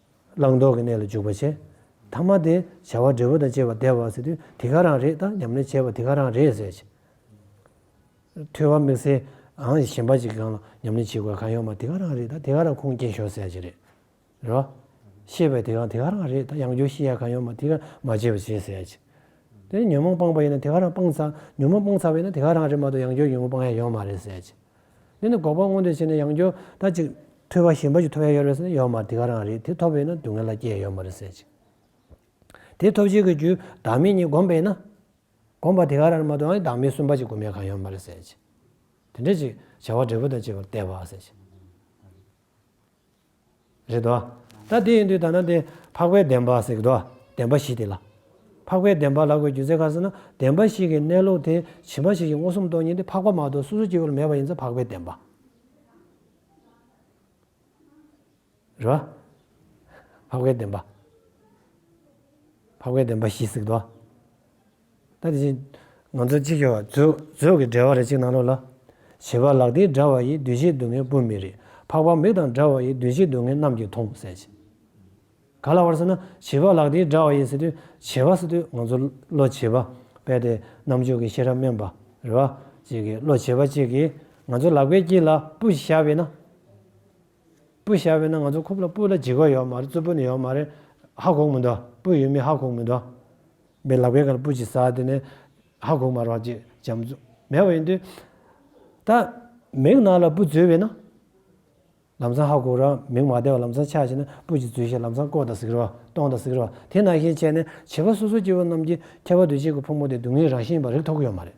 [SPEAKER 1] བླང་དོར་གྱི་གནས་ལ་འཇུག་པར་བྱེད། ཐ་མ་དེ་བྱ་བ་འབྲས་བུ་དང་བཅས་པ་བདེ་བར་ཟད་དུས་དེ་ག་རང་རེད་ད་ཉམས་ལེན་བྱས་པ་དེ་ག་རང་རེད་ཟེར་གྱི། ཐོས་བ་དམིགས་བསལ་འང་གཞན་པ་གཅིག་གི་གང་ལ་ཉམས་ལེན་བྱེད་དགོས་གང་ཡོད་མ་དེ་ག་རང་རེད་ད་དེ་ག་རང་ཁུངས་སྐྱེལ་ཞོར་ཟེར་གྱི་རེད། རོ། ཤེས་པའི་དེ་ག་དེ་ག་རང་རེད་ད་ཡང་སྒྱུར་བཤད་ཡ་གང་ཡོད་མ་དེ་ག་རང་མ་བྱས་པ་བྱས་ཟེར་གྱི། དེ་ནས་ཉོན་མོངས་སྤངས་པ་ཡིན་ན་དེ་ག་རང་སྤངས་ཚར་ཉོན་མོངས་སྤངས་ཚར་བ་ཡིན་ན་དེ་ག་རང་རེད་མ་གཏོགས་ཡང་སྒྱུར་ཉོན་མོངས་སྤང་ཡ་ཡོད་མ་རེད་ཟེར་གྱི། འདི་ནི་འགོག་པ་དངོས་འབྲེལ་བྱས་ནས་ཡང་སྐྱོ་ད་ཅིག། ཐོས་པ་ཞེན་པ་ཞིག་ཐོབ་ཡ་ཡོད་རེད་ཟེར་ན་ཡོད་མ་རེད་དེ་ག་རང་རེད་དེ་ཐོབ་ཡོད་ན་སྡུག་བསྔལ་ལ་སྐྱེ་ཡ་ཡོད་མ་རེད་ཟེར་ཅིག། དེ་ཐོབ་བྱེད་ཀྱི་རྒྱུ་བདག་མེད་གཉིས་བསྒོམས་པས་ན། བསྒོམས་པ་དེ་ག་རང་རེད་མ་གཏོགས་ཨང་བདག་མེད་གསུམ་པ་ཅིག་བསྒོམ་ཡ་གང་ཡོད་མ་རེད་ཟེར་ཅིག། དེ་འདྲ་ཅིག་བྱ་བ་འབྲས་བུ་དང་བཅས་པར་བལྟས་པ་ཟེར་ཅིག། རེད་དོ། ད་དེ་ཡིན་དུས་ད་ནང་དེ་འཕགས་པའི་བདེན་པ་ཟེར་གི་འདུག་བདེན་པ་བཞི་དེ་ལ། འཕགས་པའི་བདེན་པ་ལ་གོ་རྒྱུ་ཚེ་ག་ཟེར་ན་བདེན་པ་བཞི་གི་གནས་ལུགས་དེ་ཇི་མ་ཇི་བཞིན་མངོན་སུམ་སྟོང་ཉིད་དེ་འཕགས་པ་མ་གཏོགས་སོ་སོ་སྐྱེ་བོ་ལ་མེད་པ་ཡིན་ཚེ་འཕགས་པའི་བདེན་པ། རེད་བ། འཕགས་པའི་བདེན་པ། འཕགས་པའི་བདེན་པ་བཞི་ཟེར་གི་འདུག། ད་དེ་བཞིན་ང་ཚོ་གཅིག་ཤོས་བ་ཚོས་ཚོས་ཀྱི་འབྲེལ་བ་རེ་གཅིག་གནང་རོགས་ལ། བྱིས་པ་ལག་མཐིལ་འདྲ་བ་ཡི་བདུད་བཞི་སྡུག་བསྔལ་སྤུན་མི་རེ་འཕགས་པ་མིག་དང་འདྲ་བ་ཡི་བདུད་བཞི་སྡུག་བསྔལ་རྣམས་ཀྱིས་མཐོང་གསལ་བྱེད། ག་ལ་བར་ཟེར་ན་བྱིས་པ་ལག་མཐིལ་འདྲ་བ་ཡི་ཟེར་དུས་བྱིས་པ་ཟེར་དུས་ང་ཚོ་བློ་བྱེད་པ་དཔལ་ལྡན་རྣམ་འབྱོར་གྱི་ཤེས་རབ་དམན་པ་རེ་བ་ཅིག་གིས་བློ་བྱེད་པ་ཅིག་གིས་ང་ཚོའི་ལག་པའི་དཀྱིལ་ལ་སྤུ་ཞིག་བཞག་པས་ན། སྤུ་ཤ་བས་ན་ང་ཚོ་ཁུབ་ལ་སྤུ་ལ་འཇིགས་པ་ཡོད་མ་རེད་རྩུབ་པོ་ནི་ཡོད་མ་རེད། ཧ་གོག་མི་འདུག་སྤུ་ཡོད་མི་ཧ་གོག་མི་འདུག། མི་ལག་པའི་ག་ལ་སྤུ་ཅིག་ཟ་དེ་ནས་ཧ་གོག་མ་རོགས་ཅེས་བྱམས་བརྩུ་མེད་པ་ཡིན་དུས། ད་མིག་ནག་ལ་སྤུ་འཛུལ་བས་ན། ལམ་སང་ཧ་གོག་རོགས་མིག་མ་བདེ་བ་ལམ་སང་ཆགས་ཤེས་ན་སྤུ་ཅིག་འཛུལ་ཤེས་ལམ་སང་ཀོག་དང་གཟིགས་རོགས་སྟོང་དང་གཟིགས་རོགས་དེ་ནང་བཞིན་བྱས་ནས་བྱིས་པ་སོ་སོ་སྐྱེ་བོ་རྣམས་ཀྱིས་ཁྱད་པར་དུ་གཅིག་གི་ཕོ་མོ་དེ་སྡུག་བསྔལ་རང་བཞིན་པ་རིག་ཐོག་གི་ཡོད་མ་རེད།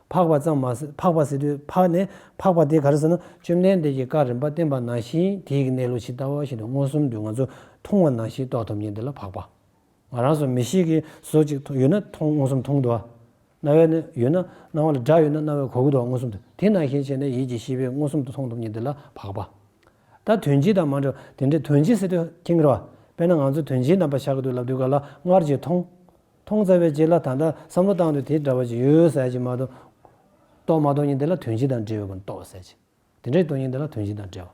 [SPEAKER 1] འཕགས་པ་ཙམ་མ་ཟད་འཕགས་པ་ཟེར་དུས་འཕགས་ནས་འཕགས་པ་དེ་ག་རེ་ཟེར་ན་བཅོམ་ལྡན་འདས་ཀྱི་བཀའ་རིམ་པ་བསྟན་པ་ནང་བཞིན་དེའི་གནས་ལུགས་ཇི་ལྟ་བ་བཞིན་དུ་མངོན་སུམ་དུ་ང་ཚོས་མཐོང་བ་ནང་བཞིན་རྟོགས་ཐུབ་ཉིད་འདི་ལ་འཕགས་པ། ང་རང་སོགས་མི་ཞིག་གིས་ཟོ་ཅིག་ཡོད་ན་མཐོང་མངོན་སུམ་མཐོང་དུ་བ། རྣ་བས་ན་ཡོད་ན་སྣང་བ་ལ་སྒྲ་ཡོད་ན་རྣ་བས་གོ་དགོས་དུ་བ་མངོན་སུམ་དུ་དེ་ནང་བཞིན་བྱས་ནས་ཡིད་ཀྱི་ཤེས་པས་མངོན་སུམ་དུ་མཐོང་ཐུབ་ཉིད་འདི་ལ་འཕགས་པ། ད་དོན་སྤྱི་དང་མ་འབྲེལ་བ་དེ་འདྲའི་དོན་སྤྱི་ཟེར་དུས་ཁྱེད་ཀྱི་རེ་བ་དཔེར་ན་ང་ཚོ་དོན་སྤྱིའི་རྣམ་པ་ཤར་གྱི་དུས་ལབ་དུས་ག་ལ་སྔར་གྱི་མཐོང་མཐོང་ཚར་བའི་རྗེས་ལ་ད་ལྟ་བསམ་བློ་བཏང་དུས་དེ་འདྲ་བ་ཅིག་ཡོད་ཟེར་གྱི་མ་གཏོགས། རྟོགས་མ་རྟོགས་ཉིན་དེ་ལ་དོན་སྤྱི་དང་འབྲེལ་ཡོད་པར་རྟོགས་ཟེར་གྱི། དེ་འདྲའི་རྟོགས་ཉིན་དེ་ལ་དོན་སྤྱི་དང་འབྲེལ་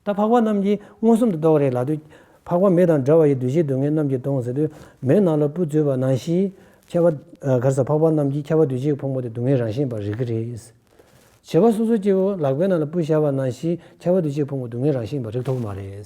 [SPEAKER 1] བ། ད་འཕགས་པ་རྣམས་ཀྱིས་མངོན་སུམ་དུ་རྟོགས་རེག་ལགས་དུས། འཕགས་པ་མེ་དང་འདྲ་བ་ཡི་འདུ་བྱེད་སྡུག་བསྔལ་རྣམས་ཀྱིས་སྟོང་ཟེར་དུས། མེའི་ནང་ལ་སྤུ་བཙོས་པ་ནང་བཞིན། ཁྱད་པར། གར་སར་འཕགས་པ་རྣམས་ཀྱིས་ཁྱད་པར་འདུ་བྱེད་ཀྱི་ཕུང་པོ་དེ་སྡུག་བསྔལ་རང་བཞིན་པར་རིག་གི་རེད། བྱེད་པ་སོ་སོ་སྐྱེ་བོ་ལག་པའི་ནང་ལ་སྤུ་བཞག་པ་ནང་བཞིན་ཁྱད་པར་འདུ་བྱེད་ཀྱི་ཕུང་པོ་སྡུག་བསྔལ་རང་བཞིན་པར་རིག་ཐུབ་ཀྱི་མ་རེད།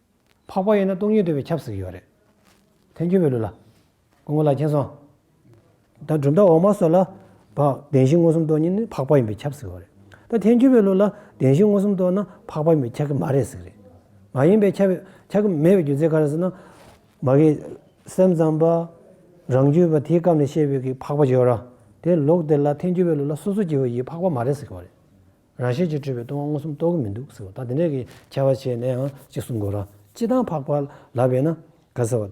[SPEAKER 1] འཕགས་པ་ཡིན་ན་སྟོང་ཉིད་འདོད་པའི་ཁྱབ་ཟེར་གྱི་ཡོད་རེད། ཐལ་འགྱུར་བའི་ལུགས་ལ། སྐུ་ངོ་ལ་མཁྱེན་སོང། ད་གྲུབ་མཐའ་འོག་མ་སོགས་ལ། བདེན་བཞི་མངོན་སུམ་རྟོགས་ཉིད་ནི་འཕགས་པ་ཡིན་པའི་ཁྱབ་ཟེར་གི་ཡོད་རེད། ད་ཐལ་འགྱུར་བའི་ལུགས་ལ་བདེན་བཞི་མངོན་སུམ་རྟོགས་ན་འཕགས་པ་ཡིན་པའི་ཁྱབ་གི་མ་རེད་ཟེར་གི་རེད། མ་ཡིན་པའི་ཁྱབ་ཁྱབ་གི་མེད་པའི་རྒྱུ་མཚན་ག་རེ་ཟེར་ན། མ་གིས་སེམས་ཙམ་པ། རང་རྒྱུད་པ་དེའི་སྐབས་ནས་བཤད་པའི་གིས་འཕགས་པ་བརྗོད་ར། དེ་ལུགས་དེ་ལ་ཐལ་འགྱུར་བའི་ལུགས་ལ་སོ་སོ་སྐྱེ་བོ་ཡིས་འཕགས་པ་མ་རེད་ཟེར་གི་ཡོད་རེད། རང་བཞིན་གྱིས་སྤྲོས་པའི་ལྟུང་བ་མངོན་སུམ་རྟོགས་ཀྱི་མི་འདུག་ཟེར་བ་དང་དེ་འདྲ་གི་ཁྱད་པར་བྱས་ནའང་གཅིག་གསུང་དགོས་རང། སྤྱི་དང་འཕགས་པ་ལ་བས་ན། ག་ཟེར་བ།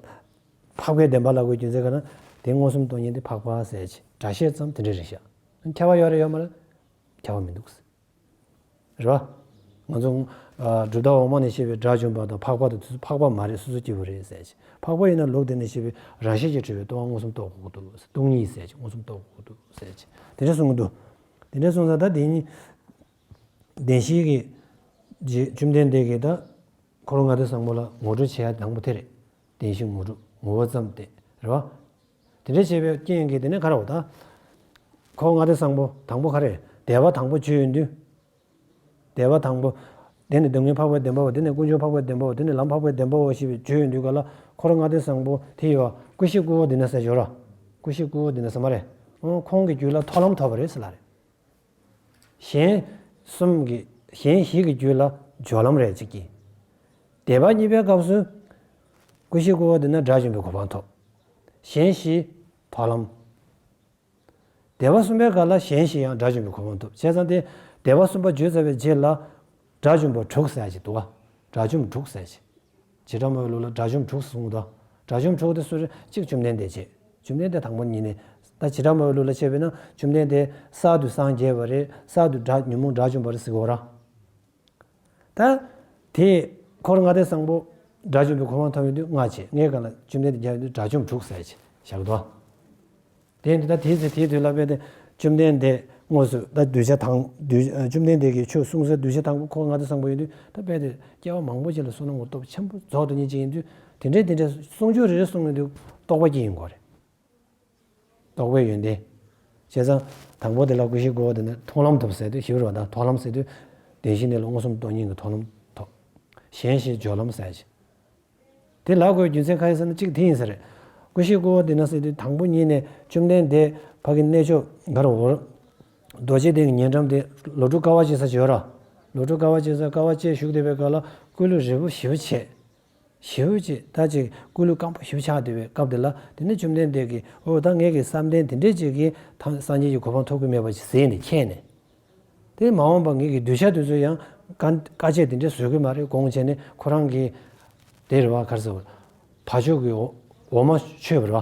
[SPEAKER 1] འཕགས་པའི་བདེན་པ་ལ་དགོས་རྒྱུ་མཛད་ག་ན། དེ་མངོན་སུམ་རྟོགས་ཉིད་དེ་འཕགས་པ་ཟས་ཀྱི་སྒྲ་བཤད་ཙམ་དེ་འདྲའི་རིགས་ཤ། ཁྱད་པར་ཡོད་རེད་ཡོད་མ་རེད། ཁྱད་པར་མི་འདུག་ཟེར། རེད་བ། ང་ཚོ། སྒྲུབ་ཐབས་འོག་མ་ནས་བཤད་པའི་སྒྲ་བྱུང་བ་དང་འཕགས་པ་དང་དུས་སུ་འཕགས་པ་མ་རེད་སོ་སོ་སྐྱེ་བོ་རེད་ཟས་ཀྱི། འཕགས་པ་ཡིན་ན་ལུགས་འདི་ནས་བཤད་པའི་རང་བཞིན་གྱིས་སྤྲོས་པའི་ལྟུང་བ་མངོན་སུམ་རྟོགས་དགོས་དགོས་འདུག་ཟེར་ལྟུང་ཉིད་ཟས་ཀྱི་མངོན་སུམ་རྟོགས་དགོས་དགོས་འདུག་ཟས་ཀྱི་དེ་འདྲ་གསུང་གི་འདུག། དེ་འདྲའི་གསུང་ཚག་ད་དེ་གཉིས། བདེན་བཞིའི་གེགས། རྗེ་བཅོམ་ལྡན་འདས་ཀྱིས་ད། འཁོར་ལོ་ལྔ་སྡེ་བཟང་པོ་ལ་ངོ་སྤྲོད་བྱེད་ཡ་དང་པོ་དེ་རེད། བདེན་བཞི་ངོ་སྤྲོད་ངོ་བོ་ཙམ་སྟེ། རེད་བ། དེ་འདྲ་བྱེད་པའི་རྐྱེན་གྱིས་དེ་ནས་ག་རེ་བ་ད། འཁོར་ལྔ་སྡེ་བཟང་པོ་དང་པོ་ག་རེ། དད་པ་དང་པོ་བཅུའི་མདུན། བཟླས་པ་དང་པོ། དེ་ནི་སྡུག་བསྔལ་འཕགས་པའི་བདེན་པའོ་དེ་ནི་ཀུན་འབྱུང་འཕགས་པའི་བདེན་པའོ་དེ་ནི་ལམ་འཕགས་པའི་བདེན་པའོ་ཞེས་པའི་བརྗོད་ཡོད་འདུག་ག་ལ་འཁོར་ལྔ་ལྡན་བཟང་པོ་དེ་ཡོད། ཀུན་གཞི་དཀོན་བོ་འདི་ན་ཟེར་ཞོར། ཀུན་གཞི་དཀོན་བོ་འདི་ན་ཟེར་མ་རེད། ཁོང་གི་རྒྱུད་ལ་ཐོག་ལམ་ཐོབ་པ་རེད་ཟེར་ལ་རེད། གཞན་གསུམ་གྱི། གཞན་བཞི་གི་རྒྱུད་ལ་སྦྱོར་ལམ་རེད་ཅིག་གྱིས། བཟླས་པ་གཉིས་པའི་སྐབས་སུ། ཀུན་གཞི་དཀོན་བོ་འདི་ན་དགྲ་བཅོམ་པའི་གོ་འཕང་ཐོབ། གཞན་བཞི། ཐོག་ལམ། སྡེ་བ་གསུམ་པའི་སྐབས་ལ་གཞན་ཞིག་ཡང་སྒྲ་བྱུང་བའི་གོ་བ་འདུག་བྱས་ཙང་སྟེ། སྡེ་བ་གསུམ་པ་བརྗོད་ཚར་བའི་རྗེས་ལ། སྒྲ་བྱུང་བ་དྲུག་ཟེར་གྱི་འདུག་ཨ། དགྲ་བཅོམ་དྲུག་ཟེར་གྱི། བྱེ་བྲག་མོའི་ལུགས་ལ་དགྲ་བཅོམ་དྲུག་གསུངས་དང། དགྲ་བཅོམ་དྲུག་དེ་སུ་རེད་གཅིག་བཅོམ་ལྡན་འདས་བྱས། བཅོམ་ལྡན་འདས་དང་པོ་གཉིས་ནས། ད་བྱེ་བྲག་མོའི་ལུགས་ལ་ཕྱེ་བས་ན་བཅོམ་ལྡན་འདས་གསར་དུ་སངས་རྒྱས་པ་རེད་གསར་དུ་སྒྲ་ཉོན་མོངས་དགྲ་བཅོམ་པ་རེད་ཟེར་གི་འོ་ར། ད། དེས། འཁོར་ལྔ་སྟེ་སངས་པོ། དགྲ་བཅོམ་པའི་གོ་འཕང་ཐོབ་ཡོན་དུས་ལྔ་བྱེད་ལྔའི་གང་ལ་བཅོམ་ལྡན་འདས་རྒྱལ་བ་ཡོན་དུ་དགྲ་བཅོམ་དྲུག་བསལ་བྱེད་ཞག་བདུན། དེ་འདི་ད་དེའི་ཚེ་དེའི་དུས་ལ་བས་ཏེ། བཅོམ་ལྡན་འདས་དངོས་སུ་ད་གདུལ་བྱ་དང། བཅོམ་ལྡན་འདས་ཀྱིས་ཆོས་གསུང་སའི་གདུལ་བྱ་དང་པོ་འཁོར་ལྔ་སྟེ་སངས་པོ་ཡོན་དུས་ད་བས་ཏེ། སྐྱེ་བ་མང་པོ་ཅིག་ལ་སོགས་ན་ངོ་སྟོབས་ཆེན་པོ་རྫོགས་སྟོ་ཉིད་ཅིག་ཡིན་དུས་དེ་འདྲའི་དེ་འདྲའི་གསུང་ཆོས་རེ་རེ་གསུང་ཡོན་དུ་རྟོགས་པ་ཀྱི་ཡིན་གོ་རེ། རྟོགས་པའི་ཡོན་ཏན། བྱས་ཙང། དང་པོ་དེ་ལ་ཀུན་གཞིའི་དགོས་པ་དེ་ནི་མཐོང་ལམ་ཐོབ་ཟེར་ཏེ་ཞི་བར་བ་དག་མཐོང་ལམ་ཟེར་དུས། བདེན་བཞི་གནས་ལུགས་མངོན་སུམ་སྟོང་ཉིད་ཀྱི་མཐོང་ལམ་ཐོབ། གཞན་ཞེས་སྦྱོར་ལམ་ཟད་བྱེད། དེ་ལ་དགོས་རྒྱུ་མཚན་ཁ་ཡི་ས་ན་གཅིག་དེ་ཡིན་ས་རེད། ཀུན་གཞིའི་དགོས་པ་དེ་ན་ཟེར་དུས་དང་པོ་ཉིད་ནས་བཅོམ་ལྡན་འདས་ཕ་གི་གནས་མཆོག་མཁར་དབོར། རྡོ་རྗེ་གདན་གྱི་ཉེ་འགྲམ་དེ་ལོ་དྲུག་དཀའ་བ་སྤྱད་ས་བྱོས་ར། ལོ་དྲུག་དཀའ་བ་སྤྱད་ས་དཀའ་བ་སྤྱད་བཞུགས་བདེ་བའི་སྐབས་ལ་སྐུ་ལུས་རིལ་བུ་ཞི་བ་བྱས། ཞེས་འོད་ཅེས་ད་ཅེས་སྐུ་ལུས་སྐམ་པོ་ཞིབ་ཆགས་བདེ་བའི་སྐབས་དེ་ལ་དེ་ནས་བཅོམ་ལྡན་འདས་ཀྱིས་འོ་ད་ངེད་ཀྱི་བསམ་གཏན་དེ་འདྲས་ཅིག་གིས་དང་སངས་རྒྱས་ཀྱི་གོ་འཕང་ཐོབ་ཀྱི་མེད་པ་ཞིག་ཟེར་ནས་མཁྱེན་ནས། དེ་མ་འོངས་པར་ངེད་ཀྱི་གདུལ་བྱ་དེ་ཚོས་ཡང་བཀའ་བཀའ་ཆད་དེ་འདྲས་བཟོད་ཀྱི་མ་རེད་དགོངས་བྱས་ནས་ཁོ་རང་གིས། དེར་བ་གར་ཟེར་བ། བ་ཕྱོགས་ཀྱི་འོ་མ་མཆོད་པར་བ།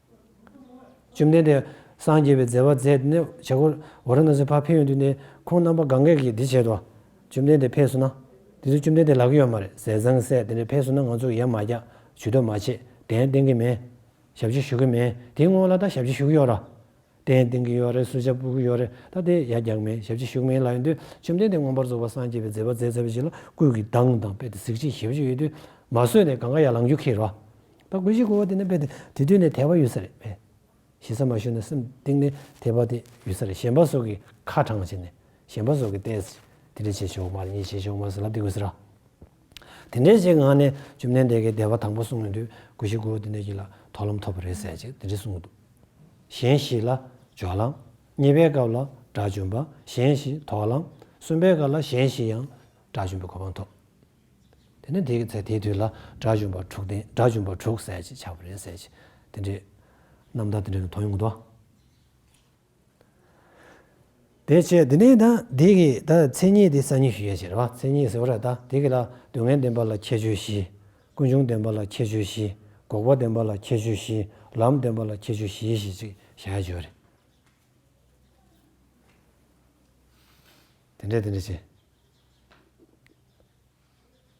[SPEAKER 1] བཅོམ་ལྡན་འདས། སངས་རྒྱས་པའི་མཛད་པ་མཛད་དེ་ནི་བྱེད། གོ་རེ་ན་སོའི་ཕ་ཕེབས་ཡོང་དུས་ནས། ཁོང་རྣམ་པ་གང་གཱས་ཀྱིས་འདི་བྱེད་དོ། བཅོམ་ལྡན་འདས་ཕེབས་སོང་ན། དེ་ཚོས་བཅོམ་ལྡན་འདས་ལག་གི་ཡོད་མ་རེད་ཟེར་བཟང་ངན་སེ་དེ་འདྲས་ཕེབས་སོང་ན་ང་ཚོ་ཡར་མ་བཀྱག་ཇུས་གཏོགས་མ་བྱེད་གདན་སྟེང་གི་མེད། ཞབས་ཕྱི་ཞུ་གི་མེད་དེའི་སྔོན་ལ་ད་ཞབས་ཕྱི་ཞུ་གི་ཡོད་ར། གདན་འདིང་གི་ཡོད་རེད་སུ་ཞབས་བཀུག་གི་ཡོད་རེད་ད་ལྟའི་ཡ་རྒྱག་མེད་ཞབས་ཕྱི་བཞུགས་མེད་ལ་ཡོད་དུས་བཅོམ་ལྡན་འདས་མངོན་པར་རྫོགས་པ་སངས་རྒྱས་པའི་མཛད་པ་མཛད་ཚར་བའི་རྗེས་ལ་སྐུལ་གྱི་གདངས་དང་དཔེ་དེ་གཟིགས་ཕྱིན་ཞབས་ཕྱི་ཡོད་དུས་མ་བཟོད་ནས་གང་ག་ཡ་ལང་རྒྱུ་ཁེལ་རོགས་ད་དགོས་ཤིག་དགོས་པ་དེ་ནི་དཔེ་དེ་དེ་དུས་ནས་དད་པ་ཡོད་ས་རེད་དཔེ་ཞེ་ས་མ་ཞུ་ན་སེམས་གཏིང་ནས་དད་པ་དེ་ཡོད་ས་རེད་གཞན་པ་སོགས་ཀྱིས་ཁ་དྲངས་བྱས་ནས་གཞན་པ་སོགས་ཀྱིས་བལྟས་ཟེར་དེ་འདྲ་བྱས་ཆོག་མ་རེད་གཉིས་བྱས་ཆོག་མ་ཟེར་ལབ་དེ་དགོས་ཟེར་ར། དེ་འདྲའི་ཞིག་ངང་ནས་བཅོམ་ལྡན་འདས་ཀྱི་བདེ་བ་དང་པོ་གསུངས་ཡོང་དུས་གུ་ཤྲི་གུ་དེ་འདྲ་ཞིག་ལ་དོགས་ལམ་ཐོབ་པ་རེད་ཟེར་ཅིག་དེ་འདྲ་གསུངས་འདུག་གཞན་ཞིག་ལ་སྦྱོར་ལམ། གཉིས་པའི་སྐབས་ལ་དགྲ་བཅོམ་པ་གཞན་ཞིག་དོགས་ལམ། གསུམ་པའི་སྐབས་ལ་གཞན་ཞིག་ཡང་དགྲ་བཅོམ་པའི་གོ་འཕང་ཐོབ། དེ་ནས་དེའི་ཚེ་དེའི་དུས་ལ་དགྲ་བཅོམ་པ་དྲུག་བསྟན་དགྲ་བཅོམ་པ་དྲུག་ཟེར་ཅིག་ཆགས་པ་རེད་ཟེར་ཅིག་དེ་འདྲའི་རྣམ་ཐར་དེ་འདྲ་ཞིག་མཐོང་ཡོང་དུས། དེ་ཕྱིར་དེ་ནས་དང་དེ་གི་དང་མཚན་ཉིད་དེ་གསང་སྙིང་ཞུ་བྱའི་ཕྱིར་བ་མཚན་ཉིད་ཟེར་བ་ར་དང་དེ་གི་ལ་སྡུག་བསྔལ་བདེན་པ་ལ་ཁྱད་ཆོས་བཞི། ཀུན་འབྱུང་བདེན་པ་ལ་ཁྱད་ཆོས་བཞི། འགོག་པ་བདེན་པ་ལ་ཁྱད་ཆོས་བཞི་ལམ་བདེན་པ་ལ་ཁྱད་ཆོས་བཞི་ཞེས་ཅིག་བྱ་ཡ་བརྗོད། དེ་འདྲ་དེ་འདྲ་བྱས།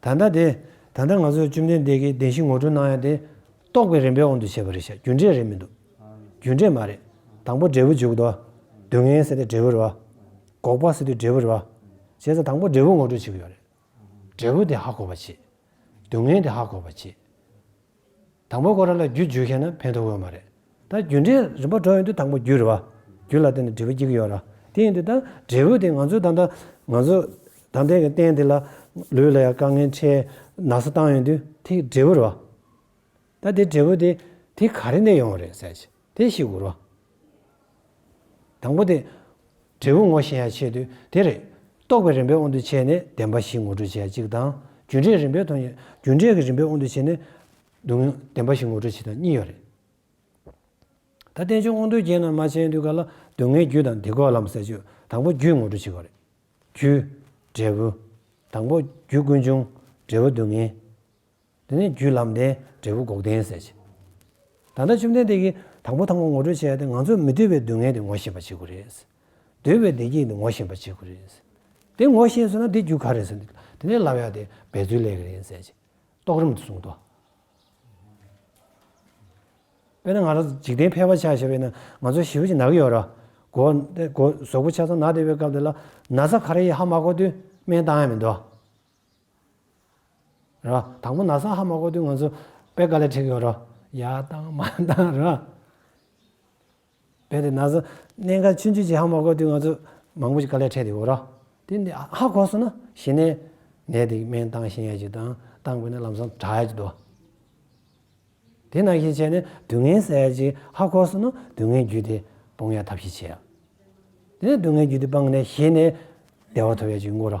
[SPEAKER 1] ད་ལྟ་དེ། ད་ལྟ་ང་ཚོས་བཅོམ་ལྡན་འདས་ཀྱིས་བདེན་བཞི་ངོ་སྤྲོད་གནང་ཡ་དེ། རྟོགས་པའི་རིམ་པའི་དབང་དུ་བྱས་པ་རེད་བཤད་རྒྱུ་འབྲས་རེད་མི་འདུག། རྒྱུ་འབྲས་མ་རེད། དང་པོ་འབྲས་བུ་འཇུག་ཏོ། སྡུག་བསྔལ་སེལ་ཏེ་འབྲས་བུར་བ། འགོག་པ་སེལ་དུས་འབྲས་བུར་བ། བྱས་ཙང་དང་པོ་འབྲས་བུ་ངོ་སྤྲོད་བྱེད་ཀྱི་ཡོད་རེད། འབྲས་བུ་དེ་ཧ་གོ་བར་བྱེད། སྡུག་བསྔལ་དེ་ཧ་གོ་བར་བྱེད། དང་པོ་ཁོ་རང་ལ་རྒྱུ་བརྗོད་མཁན་ན་ཕན་ཐོག་ཡོད་མ་རེད། ད་རྒྱུ་འབྲས་རིམ་པ་འགྲོ་ཡོང་དུས་དང་པོ་རྒྱུ་རེད་བ། རྒྱུ་ལ་བརྟེན་ནས་འབྲས་བུ་སྐྱེ་གི་ཡོད་ར། དེ་ཡིན་དུས་ད་འབྲས་བུ་དེ་ང་ཚོའི་ད་ལྟ་ང་ཚོ་ད་ལྟའི་གི་རྟེན་འདི་ལ་ལུས་ལ་ཡང་དཀའ་ངལ་ཆེ་ནགས་སུ་བཏང་ཡོང་དུས་དེ་འབྲས་བུ་རེད་བ། ད་དེ་འབྲས་བུ་དེ་དེ་ག་རེ་ནས་ཡོང་བ་རེད་ཟེར་ཞིག། དེ་ཞིག་གོ་རོ། དང་པོ་དེ། འབྲས་བུ་ངོ་ཤེས་ཡ་ཆེད་དུ་དེ་རེད། རྟོག་པའི་རིམ་པའི་དབང་དུ་བྱས་ནས་བདེན་པ་བཞི་ངོ་སྤྲོད་བྱེད་ཡ་གཅིག་དང། རྒྱུ་འབྲས་རིམ་པའི་མཐོང་ཡ། རྒྱུ་འབྲས་ཀྱི་རིམ་པའི་དབང་དུ་བྱས་ནས། བདེན་པ་བཞི་ངོ་སྤྲོད་བྱེད་དང་གཉིས་ཡོད་རེད། ད་རྟེན་འབྱུང་དབང་དོན་རྐྱེན་རྣམས་མ་བྱས་དུས་ག་ལ་སྡུག་བསྔལ་རྒྱུ་དང་དེ་གོ་ལམ་ཟེར་ཆོས་དང་པོ་རྒྱུས་ངོ་སྤྲོད་བྱེད་དགོས་རེད། རྒྱུ། འབྲས་བུ། དང་པོ་རྒྱུ་ཀུན་འབྱུང། འབྲས་བུ་སྡུག་བསྔལ། དེ་ནས་རྒྱུད་ལམ་ལྡན་འབྲས་བུ་འགོག་བདེན་ཟེར་གྱི། ད་ལྟ་བཅོམ་ལྡན་འདས་ཀྱིས་དང་པོ་ཐང་པོ་ངོ་སྤྲོད་བྱས་ཏེ་ང་ཚོས་མི་འདོད་པའི་སྡུག་བསྔལ་དེ་ངོ་ཤེས་པ་བྱེད་དགོས་རེད། འདོད་པའི་བདེ་སྐྱིད་དེ་ངོ་ཤེས་པ་བྱེད་དགོས་རེད། དེ་ངོ་ཤེས་སོང་ན་དེ་རྒྱུ་ག་རེད་ཟེར་ནས་དེ་ནས་ལབ་ཡག་དེ་འབད་རྩོལ་ལས་ཀྱི་རེད་ཟེར་གྱི། རྟོགས་རིམ་དུ་གསུངས་ཏོ། དཔེར་ན་ང་རང་འཇིག་རྟེན་ཕལ་བ་ཆགས་ཞེས་པས་ན་ང་ཚོ་ཞི་བ་ཅིག་ན་གི་ཡོད་ར། གོ། གོ། ཟོག་པོ་ཆ་ཚང་ན་བདེ་བའི་སྐབས་དེ་ལ་ན་ཚ་ཁ་ར་ཡི་ཧ་མ་གོ་དུས་སྨན་བཏང་ཡ་མི་འདུག། རོ། དང་པོ་ན་སང་ཧ་མ་གོ་དུས་ང་ཚོ་དཔེ་ག་ལེར་བྲིས་ཡོད་རོ། ཡ་བཏང་མ་བཏང་རོ། དཔེ་དེ་ན་སང་གནས་འགའ་ཆུ་མཆུ་ཆེ་ཧ་མ་གོ་དུས་ང་ཚོ་མང་པོ་ཞིག་ག་ལེར་འཕྲད་དེ་ཡོད་རོ། དེ་འདི་ཧ་གོ་སོང་ན་གཞི་ནས་ནད་དེ་སྨན་བཏང་ཤེས་ཡ་ཅིག་དང་བཏང་དགོས་ན་ལམ་སང་དྲག་ཡ་ཅིག་འདུག། དེ་ན་ཤས་ཆེ་ནས་དུས་ངན་ཟ་ཡ་ཅིག་ཧ་གོ་སོང་ན་དུས་ངན་རྒྱུད་དེ་སྤོང་ཡ་ཐབས་ཤིག་བྱེད་ཡ། དེ་ནས་དུས་ངན་རྒྱུད་དེ་སྤངས་ནས་གཞི་ནས་བདེ་བ་ཐོབ་ཡ་ཅིག་འགོར་རོ།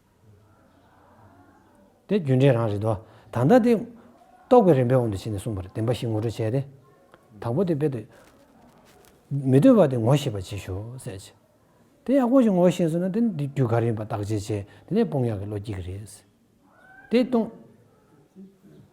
[SPEAKER 1] དེ་རྒྱུ་འབྲས་རང་རེད་དོ། ད་ལྟ་དེ། རྟོག་པའི་རིམ་པའི་དབང་དུ་བྱས་ནས་གསུངས་པར་བདེན་པ་བཞི་ངོ་སྤྲོད་བྱས་ཏེ། དང་པོ་དེ་དཔེ་དུ། མི་ལྟོས་པ་དེ་ངོ་ཤེས་པར་བྱེད་ཞོར་གསལ་བྱེད། དེ་ཡག་པོ་ཞིག་ངོ་ཤེས་སོང་ན་དེ་ནི་དེ་རྒྱུ་ག་རེ་ཡིན་པ་བརྟག་དཔྱད་བྱས་དེ་ནས་སྤོང་ཡག་གི་བློ་སྐྱེ་གི་རེད། དེ་སྟོང།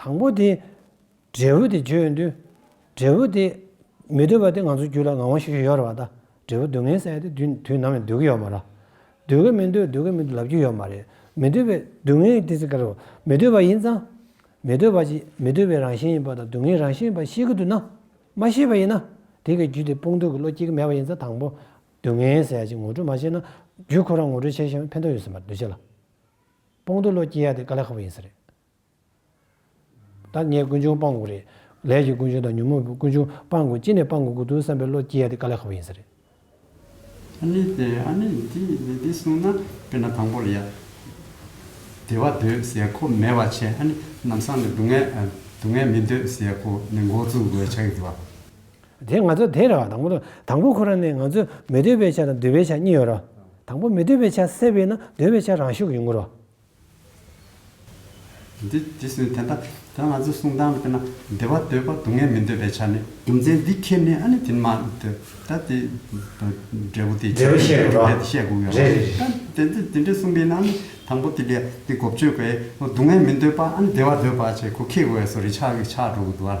[SPEAKER 1] དང་པོ་དེ། འབྲས་བུ་དེ་བརྗོད་ཡོང་དུས། འབྲས་བུ་དེ། མི་འདོད་པ་དེ་ང་ཚོའི་རྒྱུད་ལ་ངང་བ་ཤིག་ཤིག་ཡོད་རེད་བ་ད། འབྲས་བུ་སྡུག་བསྔལ་བསལ་ཏེ་དུས་དུས་ནམ་ཡང་སྡོད་ཀྱི་ཡོད་མ་རེད། སྡོད་ཀྱི་མི་འདོད་སྡོད་ཀྱི་མི་འདོད་ལབ་རྒྱུ་ཡོད་མ་རེད། མི་འདོད་པའི་སྡུག་བསྔལ་དེ་ཚེ་གལ། མི་འདོད་པ་ཡིན་ཙང། མི་འདོད་པ་ཅིག་མི་འདོད་པའི་རང་བཞིན་ཡིན་པ་དང་སྡུག་བསྔལ་རང་བཞིན་ཡིན་པ་ཤེས་ཀྱི་འདུག་ན། མ་ཤེས་པ་ཡིན་ན། དེ་གའི་རྒྱུད་དེ་སྤོང་འདོད་ཀྱི་བློ་སྐྱེ་གི་མེད་པ་ཡིན་ཙང་དང་པོ། སྡུག་བསྔལ་བསལ་ཅིག་ངོ་སྤྲོད་མ་བྱས་ན། རྒྱུད་ཁོ་རང་ངོ་སྤྲོད་བྱས་ཤིང་ཕན་ཐོགས་ཡོད་སྲིད་པར་འདོད་ཆེ་ལ། དཔུང་རྡོ་ལོ་སྐྱེས་ཡག་དེ་དཀའ་ལས་ཁག་པོ་ཡིན་ས་རེད། ད་ངས་དཀོན་མཆོང་སྤང་དགོས་རེད། ལས་ཀྱི་དཀོན་མཆོང་དང་ཉོན་མོངས་པའི་དཀོན་མཆོང་སྤང་དགོས་ཅི་ནས་སྤང་དགོས་དགོས་དོན་བསམ་པའི་ལོ་སྐྱེས་ཡག་དེ་དཀའ་ལས་ཁག་པོ་ཡིན་ས་རེད། ཨ་
[SPEAKER 2] ནི་དེ་ཨ་ནི་འདི་ནི་འདི་གསུངས་ན་དཔེར་ན་དང་པོར་ཡ། བདེ་བ་འདོད་ཟེར་ཁོ་མེད་བ་ཆེ་ཨ་ནི་ནམ་སང་ནས་སྡུག་བསྔལ་སྡུག་བསྔལ་མི་འདོད་ཟེར་ཁོ་ནི་མགོ་བཙུགས་དགོས་ཆགས་ཡོད། དེ་ང་ཚོ་
[SPEAKER 1] དེ་རེད་བ་དང་པོ་དང་དང་པོ་ཁོ་རང་ནས་ང་ཚོས་མི་འདོད་པའི་ཆ་དང་འདོད་པའི་ཆ་གཉིས་ཡོད་རོ། དང་པོ་མི་འདོད་པའི་ཆ་སེལ་བས་ན་འདོད་པའི་ཆ་རང་ཤུགས་ཡོད་ངོ་རོ།
[SPEAKER 2] འདི་ཇི་སྲིད་དེ་འདྲ་དོན་ང་ཚོས་གསུང་སྟངས་དེ་ན་བདེ་བ་འདོད་པ་སྡུག་བསྔལ་མི་འདོད་པའི་ཆ་ནི། རྒྱུ་མཚན་འདི་ཁྱེར་ནས་ཨ་ནི་དེ་ནི་མ་འདོད་ད་དེ་འབྲས་བུ་དེ་འབྲས་བུ་བཤད་དགོས་རེད་དེ་བཤད་དགོས་རེད་རེད་རེད། དེ་འདྲ་དེ་འདྲ་གསུངས་པས་ན་ཨ་ནི་དང་པོ་དེ་ལས་དེ་གོ་བཅོས་པས་སྡུག་བསྔལ་མི་འདོད་པ་ཨ་ནི་བདེ་བ་འདོད་པ་བཅས་གོ་ཁེགས་བས་སོ་རེ་ཆགས་ཀྱི་ཆགས་འགྲོ་གི་འདུག་ཨ།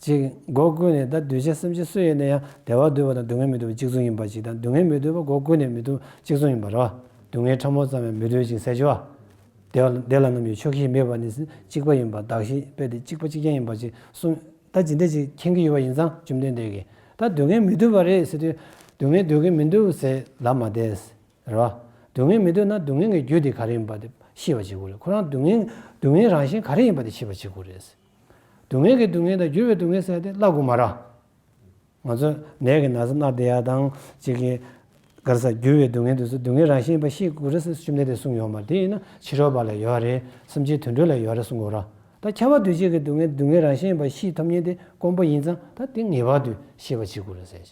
[SPEAKER 1] གཅིག། སྒོ་ཀུན་ནས་དང་གདུལ་བྱ་སེམས་ཅན་སུ་ཡིན་ན་ཡང་བདེ་བ་འདོད་པ་དང་སྡུག་བསྔལ་མི་འདོད་པ་གཅིག་མཚུངས་ཡིན་པ་ཞིག་དང་སྡུག་བསྔལ་མི་འདོད་པ་སྒོ་ཀུན་ནས་མི་འདུག་གཅིག་མཚུངས་ཡིན་པར་རོ། སྡུག་བསྔལ་ཕྲ་མོ་ཙམ་ཡང་མི་འདོད་ཅིང་ཟས་སྤྱོད་བདེ་བདེ་ལ་རྣམ་གཡོ་ཕྱོགས་བཞིའི་མེད་པ་ནི་གཅིག་པ་ཡིན་པར་བདག་ཤེས་པས་དེ་གཅིག་པ་གཅིག་རྐྱང་ཡིན་པར་ཅིག་གསུངས། ད་ཇི་འདྲ་ཞིག་མཁྱེན་གྱི་ཡོད་པ་ཡིན་ཙང་བཅོམ་ལྡན་འདས་ཀྱིས་ད་སྡུག་བསྔལ་མི་འདོད་པ་རེད་ཟེར་དུས་སྡུག་བསྔལ་འདོད་ཀྱི་མི་འདུག་ཟེར་ལབ་མ་བསྡད། རོ། སྡུག་བསྔལ་མི་འདོད་ན་སྡུག་བསྔལ་གྱི་རྒྱུ་དེ་ག་རེ་ཡིན་པ་དེ་ཤེས་པ་བྱེད་དགོས་རེད་ཁོ་རང་སྡུག་བསྔལ་སྡུག་བསྔལ་རང་བཞིན་ག་རེ་ཡིན་པ་དེ་ཤེས་པ་བྱེད་དགོས་རེད། སྡུག་བསྔལ་གྱི་སྡུག་བསྔལ་དང་འགྱུར་བའི་སྡུག་བསྔལ་བསལ་ཏེ་བླ་གུ་མ་ར། ང་ཚོ་ནད་ཀྱི་ན་ཚ་སྣ་བདེ་ཡག་དང་ཅིག་གི། གར་ས་འགྱུར་བའི་སྡུག་བསྔལ་དུ་སོ་སྡུག་བསྔལ་རང་བཞིན་པ་ཤེས་གུ་ར་སེ་བཅུ་མེད་དེ་གསུངས་ཡོང་མར་དེ་ཡིན་ན་ཕྱི་རོལ་པ་ལ་ཡོད་ར་རེད་སེམས་ཅན་དུད་འགྲོ་ལ་ཡོད་ར་གསུངས་གུ་ར་ད་ཁྱད་པར་དུ་ཅིག་གི་སྡུག་བསྔལ་སྡུག་བསྔལ་རང་བཞིན་པ་ཤེས་ཐུབ་ཉེན་དེ་དཀོན་པོ་ཡིན་ཙང་ད་དེ་ངེས་པར་དུ་ཤེས་པ་བྱེད་གུ་ར་ཟེར།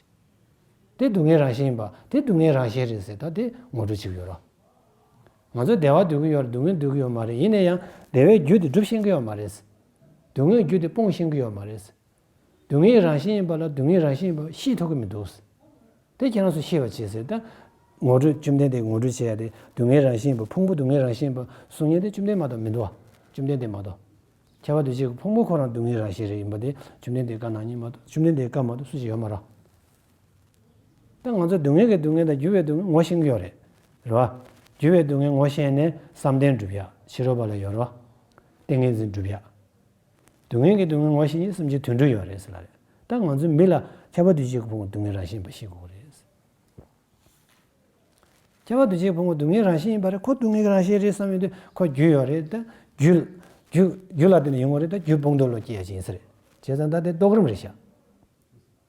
[SPEAKER 1] དེ་སྡུག་བསྔལ་རང་བཞིན་པ་དེ་སྡུག་བསྔལ་རང་ཞེས་རེད་ཟེར་ད་དེ་ངོ་སྤྲོད་བྱེད་གུ་ཡོད་ར། ང་ཚོས་སྡེ་བ་སྡོད་ཀྱི་ཡོད་རེད་སྡུག་བསྔལ་སྡོད་ཀྱི་ཡོད་མ་རེད་ཡིན་ན་ཡང་སྡེ་བའི་རྒྱུད་དེ་སྒྲུབ་ཤེས་ཀྱི་ཡོད་མ་རེད། སྡུག་བསྔལ་རྒྱུད་དེ་སྤོང་ཤེས་ཀྱི་ཡོད་མ་རེད། སྡུག་བསྔལ་གྱི་རང་བཞིན་ཡིན་པ་ལ་སྡུག་བསྔལ་རང་བཞིན་ཡིན་པ་ཤེས་ཐུབ་ཀྱི་མི་འདུག། དེ་ཁྱེད་རང་ཚོས་ཤེས་པར་བྱས་ཟེར། ངོ་སྤྲོད་བཅོམ་ལྡན་འདས་ངོ་སྤྲོད་བྱས་ཏེ་སྡུག་བསྔལ་རང་བཞིན་ཡིན་པ་ཕུང་པོ་སྡུག་བསྔལ་རང་བཞིན་ཡིན་པ་གསུང་སྙན་དེ་བཅོམ་ལྡན་མ་གཏོགས་མི་འདུག་བ། བཅོམ་ལྡན་འདས་མ་གཏོགས། ཁྱད་པར་དུ་གཅིག་ཕུང་པོ་ཁོ་རང་སྡུག་བསྔལ་རང་བཞིན་རེད་ཡིན་པ་དེ་བཅོམ་ལྡན་འདས་བཀའ་ནང་ཉིད་མ་གཏོགས་བཅོམ་ལྡན་འདས་བཀའ་མ་གཏོགས་སུ་ཞིག་ཡོད་མ་རོ། དེ་ང་ཚོས་སྡུག་བསྔལ་གྱི་སྡུག་བསྔལ་དང་འགྱུར་བའི་སྡུག་བསྔལ་ངོ་ཤེས་ཀྱི་ཡོད་རེད། རེད་བ། འགྱུར་བའི་སྡུག་བསྔལ་ངོ་ཤེས་ནས་བསམ་གཏན་བསྒྲུབ་ཡག་ཕྱི་རོལ་བ་ལ་ཡོད་རེད་བ། ཏིང་ངེ་འཛིན་བསྒྲུབ་ཡག། སྡུག་བསྔལ་གྱི་སྡུག་བསྔལ་ངོ་ཤེས་ཉིད་གསུམ་གཅིག་དུས་འགྲོ་ཡོད་རེད་ཟེར་ལ་རེད་ད་ང་ཚོའི་མི་ལ་ཁྱད་པར་དུས་གཅིག་གི་ཕུང་བོ་སྡུག་བསྔལ་རང་བཞིན་ཡིན་པ་ཤེས་དགོས་རེད། ཁྱད་པར་དུས་གཅིག་གི་ཕུང་བོ་སྡུག་བསྔལ་རང་བཞིན་ཡིན་པ་རེད་ཁོ་སྡུག་བསྔལ་གྱི་རང་བཞིན་རེད་བསམ་ཡོད་དུས་ཁོ་རྒྱུ་ཡོད་རེད་ད། རྒྱུ། རྒྱུ། རྒྱུ་ལ་བརྟེན་ནས་ཡོང་བ་རེད་ད་རྒྱུ་སྤུན་རྡོ་ལོ་སྐྱེས་ཡག་ཅིག་ཡིན་ས་རེད་བྱས་ཙང་ད་དེ་རྟོགས་རིམ་རེད་བྱ།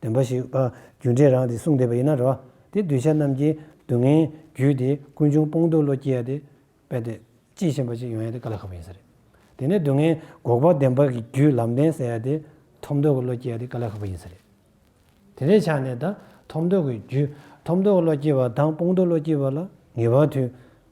[SPEAKER 1] འདུན་པ་ཞིག་པ་རྒྱུ་འབྲས་རང་དེ་གསུངས་བསྡད་པ་ཡིན་ན་རོ། དེ་གདུལ་བྱ་རྣམས་ཀྱི་སྡུག་བསྔལ་རྒྱུ་དེ་ཀུན་འབྱུང་སྤོང་སྡུག་བློ་སྐྱེ་ཡ་དེ་དཔེ་དེ་ཅི་བཞིན་པ་ཅིག་ཡོང་ཡ་དེ་ག་ལ་ཁག་པོ་ཡིན་ས་རེད། དེ་ནས་སྡུག་བསྔལ་འགོག་པ་བདེན་པ་གི་རྒྱུ་ལམ་བདེན་ཟེར་ཡ་དེ་ཐོབ་འདོད་ཀྱི་བློ་སྐྱེ་ཡ་དེ་ག་ལ་ཁག་པོ་ཡིན་ས་རེད། དེ་ལས་ཆགས་ནས་ད་ཐོབ་འདོད་ཀྱི་རྒྱུ་ཐོབ་འདོད་ཀྱི་བློ་སྐྱེ་བ་དང་སྤོང་སྡུག་བློ་སྐྱེ་བ་ལ་ངེས་པ་དུས་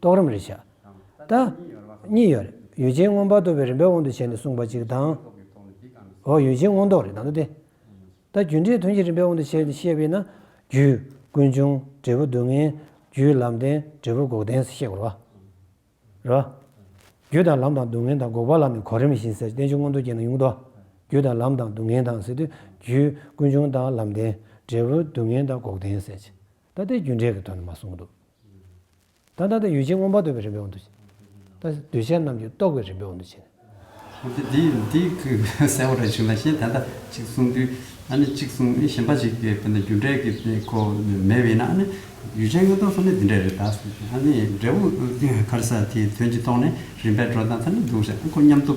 [SPEAKER 1] རྟོགས་རིམ་རེ་བྱ། ད། གཉིས་ཡོད། ཡུལ་ཅན་མངོན་པར་རྟོགས་པའི་རིམ་པའི་དབང་དུ་བྱས་ནས་གསུངས་པ་ཅིག་དང། འོ་ཡུལ་ཅན་མངོན་རྟོགས་རེད་དང་དུ་སྟེ། ད་རྒྱུ་འབྲས་དོན་གྱི་རིམ་པའི་དབང་དུ་བྱས་ནས་བཤད་པས་ན། རྒྱུ། ཀུན་འབྱུང། འབྲས་བུ་སྡུག་བསྔལ། རྒྱུའི་ལམ་བདེན། འབྲས་བུ་འགོག་བདེན་ཟེར་ཤེས་དགོས་རེད། རྒྱུ་དང་ལམ་དང་སྡུག་བསྔལ་དང་འགོག་པ་ལ་ནི་གོ་རིམ་བཞིན་ཟེར་བསྟན་བཅོས་མངོན་རྟོགས་ཅན་ན་ཡོང་དོ། རྒྱུ་དང་ལམ་དང་སྡུག་བསྔལ་དང་ཟེར་དུས་རྒྱུ། ཀུན་འབྱུང་དང་ལམ་བདེན། འབྲས་བུ་སྡུག་བསྔལ་དང་འགོག་བདེན་ཟེར། ད་ལྟའི་རྒྱུ་འབྲས་ཀྱི་དོན་དུ་མ་གསུངས་འདུག། ད་ད་ལྟ་ཡུལ་ཅན་མངོན་པར་འདོད་པའི་རིམ་པའི་དབང་དུ་བྱས། ད་འདོད་བྱ་རྣམས་ཀྱི་རྟོགས་པའི་རིམ་པའི་དབང་དུ་བྱས་ནས། གང་གི་དེ་ཡིན་དེ་ཀུན་
[SPEAKER 2] གསལ་བར་བྱུང་ལ་ཞེས་ད་ལྟ་གཅིག་གསུངས་དུས་ཨ་ནི་གཅིག་གསུངས་ཨི་ཞེན་པ་ཞིག་གི་དཔེ་ན་རྒྱུ་འབྲས་ཀྱི་གོ་མེད་བས་ན་ཨ་ནི་ཡུལ་ཅན་མངོན་རྟོགས་སོགས་ནི་འདི་འདྲ་རེད་ད་ཟེར་ཞིང་ཨ་ནི་འབྲས་བུ་ཁར་ས་དེའི་དོན་གྱིས་རྟོགས་ནས་རིམ་པས་འགྲོ་དང་ཐ་ན་འདུག་ཟེར་ཨ་ཁོ་སྙམ་དུ།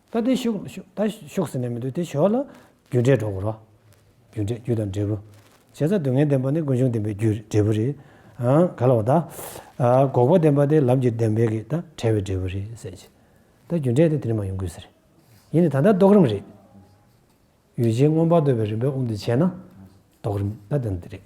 [SPEAKER 1] ད་དེ་ཤོག་ཟེར་ནས་མི་འདུག་དེ་ཞོག་ལ། རྒྱུ་འབྲས་གྲོགས་པོ་རོ། རྒྱུ་འབྲས་རྒྱུ་དང་འབྲས་བུ། བྱས་ཙང་སྡུག་བསྔལ་བདེན་པ་ནི་ཀུན་འབྱུང་བདེན་པའི་རྒྱུ་འབྲས་བུ་རེད། ག་ལ་བ་ད། འགོག་པ་བདེན་པ་དེ་ལམ་གྱི་བདེན་པས་གི་ད་བྲལ་བའི་འབྲས་བུ་རེད་ཟེར་གྱི། ད་རྒྱུ་འབྲས་དེ་དེ་རིང་མ་ཡོང་དགོས་ཟེར། ཡིན་ནི་ད་ལྟ་རྟོགས་རིམ་རེད། ཡུལ་ཅན་མངོན་པར་འདོད་པའི་རིམ་པའི་དབང་དུ་བྱས་ན། རྟོགས་རིམ་ད་དེ་འདི་རེད།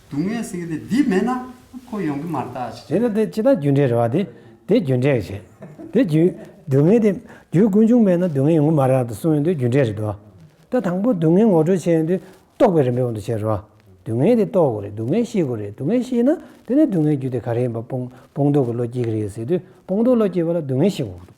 [SPEAKER 2] སྡུག་བསྔལ་སེལ་གྱི་དེ་འདི་མེད་ན་ཁོ་ཡོང་གི་
[SPEAKER 1] མ་རྟག་ཅི། དེ་ལ་དེ་ཅི་ལྟར་རྒྱུ་འབྲས་རེ་བ་དེ་དེ་རྒྱུ་འབྲས་ཀྱི་བྱེད། དེ་རྒྱུ། སྡུག་བསྔལ་དེ་རྒྱུའི་ཀུན་འབྱུང་མེད་ན་སྡུག་བསྔལ་ཡོང་གི་མ་རེད་དུ་གསུངས་ཡོད་དུས་རྒྱུ་འབྲས་རེ་བདོ། ད་དང་པོ་སྡུག་བསྔལ་ངོ་སྤྲོད་བྱས་ཡོད་དུས་རྟོགས་པའི་རིམ་པའི་དབང་དུ་བྱས་རེ་བ། སྡུག་བསྔལ་དེ་རྟོགས་དགོས་རེད་སྡུག་བསྔལ་ཤེས་དགོས་རེད་སྡུག་བསྔལ་ཤེས་ན་དེ་ནས་སྡུག་བསྔལ་རྒྱུ་དེ་ག་རེ་ཡིན་པ་སྤོང་སྤོང་རྟོགས་ཀྱི་བློ་སྐྱེ་གི་རེད་ཟེར་དུས་སྤོང་རྟོགས་བློ་སྐྱེ་བ་ལ་སྡུག་བསྔལ་ཤེས་དགོས་ཀྱི་འདུག།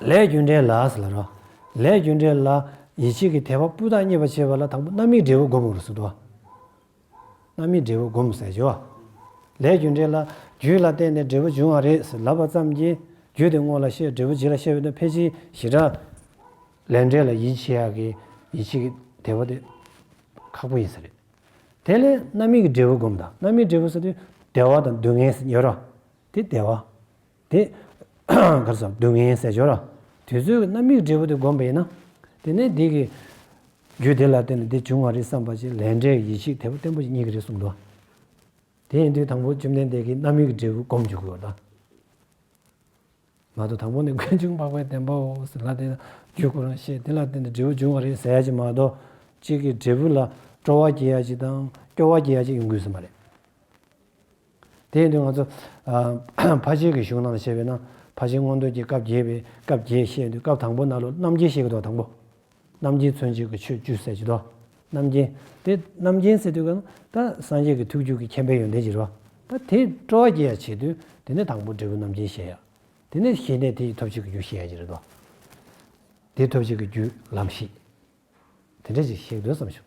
[SPEAKER 1] ལས་རྒྱུ་འབྲས་ལ་ཟེར་ལ་རོ། ལས་རྒྱུ་འབྲས་ལ་ཡིད་ཆེས་ཀྱི་དད་པ་སྤུས་དག་རྙེད་པར་བྱེད་པ་ལ་དང་པོ་རྣམ་སྨིན་འབྲས་བུ་བསྒོམ་དགོས་སོ། རྣམ་སྨིན་འབྲས་བུ་བསྒོམ་ཟེར་གྱི། ལས་རྒྱུ་འབྲས་ལ་རྒྱུད་ལ་བརྟེན་ནས་འབྲས་བུ་འབྱུང་བ་རེད་ཟེར་ལབ་པ་ཙམ་གྱིས་རྒྱུད་དེ་སྔོན་ལ་ཤེས་འབྲས་བུ་རྗེས་ལ་ཤེས་པའི་དོན་ཕལ་ཆེར་ཞི་དྲག། ལས་འབྲས་ལ་ཡིད་ཆེས་ཡག་གི་ཡིད་ཆེས་ཀྱི་དད་པ་དེ་ཁག་པོ་ཡིན་ས་རེད། དེ་ལས་རྣམ་སྨིན་གྱི་འབྲས་བུ་བསྒོམ་དང་རྣམ་སྨིན་འབྲས་བུ་ཟེར་དུས་བདེ་བ་དང་སྡུག་བསྔལ་ཟེར་ཉོ་རོ། དེ་བདེ་བ། དེ་གར་སོ། སྡུག་བསྔལ་ཟས་སྦྱོར། དུས་ཚོད་ཀྱི་རྣམ་དབྱེའི་འབྲས་བུ་དེ་བསྒོམ་པ་ཡིན་ན། དེ་ནས་དེ་གི། རྒྱུ་དེ་ལ་བརྟེན་ནས་དེ་བྱུང་བ་རེད་བསམ་པ་ཅིག་ལས་འབྲས་ཀྱི་ཡེ་ཤེས་དེ་བརྟན་པོ་ཅིག་རྙེད་ཀྱི་རེད་གསུངས་འདུག། དེ་ཡིན་དུས་དང་པོ་བཅོམ་ལྡན་འདས་ཀྱིས་རྣམ་དབྱེའི་འབྲས་བུ་བསྒོམ་བཅུག་གོ། མ་གཏོགས་དང་པོ་ནི་ཀུན་འབྱུང་འཕགས་པའི་བདེན་པའོ་ཟེར་ལ་དེ་ལ་རྒྱུད་སྐུ་རང་ཤེས་དེ་ལ་བརྟེན་ནས་འབྲས་བུ་འབྱུང་བ་རེད་ཟེར་ཡ་ཅིག་མ་གཏོགས། གཅིག་གི་འབྲས་བུ་ལ་སྤྲོ་བ་སྐྱེ་ཡ་ཅིག་དང་སྐྱོ་བ་སྐྱེ་ཡ་ཅིག་ཡོང་དགོས་ཟིན་པ་རེད། དེ་ཡིན་དུས་ང་ཚོ་ཕ་ཆེན་གྱི་གཞུང་ནང་ལ་བྱས་པས་ན་ཕ་ཆེན་སྔོན་འདོན་གྱི་སྐབས་བརྒྱད་པའི་སྐབས་བརྒྱད་བཤད་འདུག་སྐབས་དང་པོ་ན་ལོ་རྣམ་རྒྱལ་བཤད་ཀྱི་འདུག་དང་པོ། རྣམ་རྒྱལ་མཚོན་བྱེད་ཀྱི་ཆོས་བཅུ་གསལ་བྱེད་དོ། རྣམ་རྒྱལ། དེ་རྣམ་རྒྱལ་ཟེར་དུས་ཀྱང་ད་སངས་རྒྱས་ཀྱི་ཐུགས་བཅུད་ཀྱི་མཁྱེན་པའི་ཡོན་ཏན་གྱི་རོ། ད་དེ་སྤྲོ་བ་རྒྱས་ཡ་བྱེད་དུས་དེ་ནས་དང་པོ་འབྲས་བུ་རྣམ་རྒྱལ་བཤད་ཡ། དེ་ནས་གཞི་གནས་དེ་ཡི་ཐོབ་བྱེད་ཀྱི་རྒྱུ་བཤད་ཡ་གྱི་རེད་དོ། དེ་ཐོབ་བྱེད་ཀྱི་རྒྱུ་ལམ་བཞི། དེ་འདྲ་ཞིག་བཤད་ཀྱི་འདུག་བསམ་བྱུང།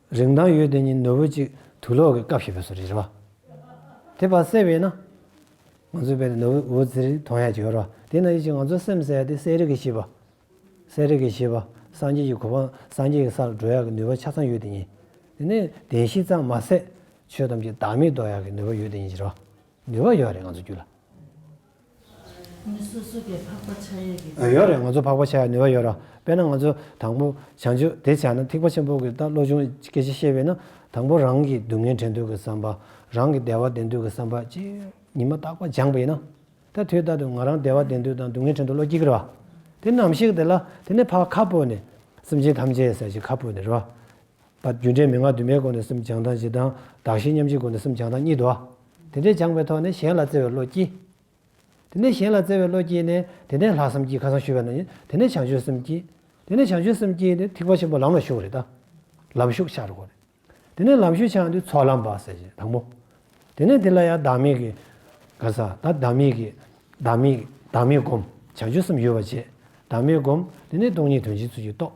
[SPEAKER 1] རིག་མདངས་ཡོད་དེ་ནི་ནོར་བུ་གཅིག་དུས་ལོག་གི་སྐབས་ཤིག་པས་སོ་རེད་བ། དེ་བར་གསལ་བས་ན། ང་ཚོའི་དཔེ་ལ་ནོར་བུ་འོད་ཟེར་གྱི་དོན་ཡང་བྱེད་རོགས། དེས་ན་ཡིད་ཀྱིས་ང་ཚོའི་སེམས་གསལ་ཏེ་གསལ་རིག་གིས་ཤེས་པ། གསལ་རིག་གིས་ཤེས་པ་སངས་རྒྱས་ཀྱི་གོ་འཕང་སངས་རྒྱས་ཀྱི་སར་འགྲོ་ཡག་གི་ནུས་པ་ཆ་ཚང་ཡོད་དེ་ཉིད། དེ་ནི་བདེན་བཞི་ཙམ་མ་ཟད་ཆོས་ཐམས་ཅད་བདག་མེད་རྟོགས་ཡག་གི་ནུས་པ་ཡོད་དེ་ཉིད་ཟེར་བ། ནུས་པ་ཡོད་རེད་ང་ཚོའི་རྒྱུད་ལ།
[SPEAKER 3] མི་སོ་སོ་གས་འཕགས་པ་ཆགས་ཡས་ཀྱི་ནུས་པ། ཡོད་རེད་ང་ཚོ་འཕགས་པ་
[SPEAKER 1] ཆགས་ཡས་ནུས་པ་ཡོད་རེད་དཔེར་ན་ང་ཚོ་དང་པོ་བྱང་ཆུབ་དེ་བྱས་ན་ཐེག་པ་ཆེན་པོ་གི་བློ་ཆུང་སྐད་ཆ་བཤད་པས་ན་དང་པོ་རང་གི་སྡུག་བསྔལ་དྲན་དུས་ཀྱི་བསམ་པ་རང་གི་བདེ་བ་བདེན་དུས་ཀྱི་བསམ་པ་ཅི་ཡོད་ཉི་མ་རྟག་པར་སྦྱངས་པས་ན་ད་དུས་ལྟར་དུ་ང་རང་བདེ་བ་བདེན་དུས་དང་སྡུག་བསྔལ་དྲན་དུ་བློ་སྐྱིད་ཀྱི་རེད་པ་དེ་ནམ་ཞིག་དེ་ལ་དེ་ནས་འཕགས་ཁ་སྤོས་ནས་སེམས་ཅན་ཐམས་ཅད་ཟེར་ཞིག་ཁ་སྤོས་ནས་རེད་པ་པ། རྒྱུ་འབྲས་མན་ངག་དུ་མའི་སྒོ་ནས་སེམས་སྦྱང་དང་ཞེ་སྡང་གདགས་གཞི་མཉམ་བཞིའི་སྒོ་ནས་སེམས་སྦྱང་དང་གཉིས་ལྡོག། དེ་འདྲས་སྦྱངས་པའི་ཐོག་ནས་གཞན་ལ་བརྩེ་བའི་བློ་སྐྱེས། དེ་ནས་གཞན་ལ་བརྩེ་བའི་བློ་སྐྱེས་ནས་དེ་ནས་ལྷག་བསམ་གྱིས་ཁ་སང་ཞུས་པ་ན་ཡིན་དེ་ནས་བྱང་ཆུབ་སེམས་སྐྱེས། དེ་ནས་བྱང་ཆུབ་སེམས་སྐྱེས་ནས་ཐིགས་པ་ཆེན་པོ་ལམ་ལ་ཞུགས་རེད་ད། ལམ་ཞུགས་ཆགས་རེད་གོ་རེད། དེ་ནས་ལམ་ཞུགས་ཆགས་འདི་ཚོགས་ལམ་བ་ཟེར་ཞེས་དང་པོ། དེ་ནས་དེ་ལ་ཡང་བདག་མེད་ཀྱི། ག་ས་ད་བདག་མེད་ཀྱི། བདག་མེད་ཀྱི་བདག་མེད་བསྒོམ། བྱང་ཆུབ་སེམས་ཡོད་པར་བྱས། བདག་མེད་བསྒོམ། དེ་ནས་སྟོང་ཉིད་དོན་གྱི་ཚུལ་གྱིས་རྟོགས།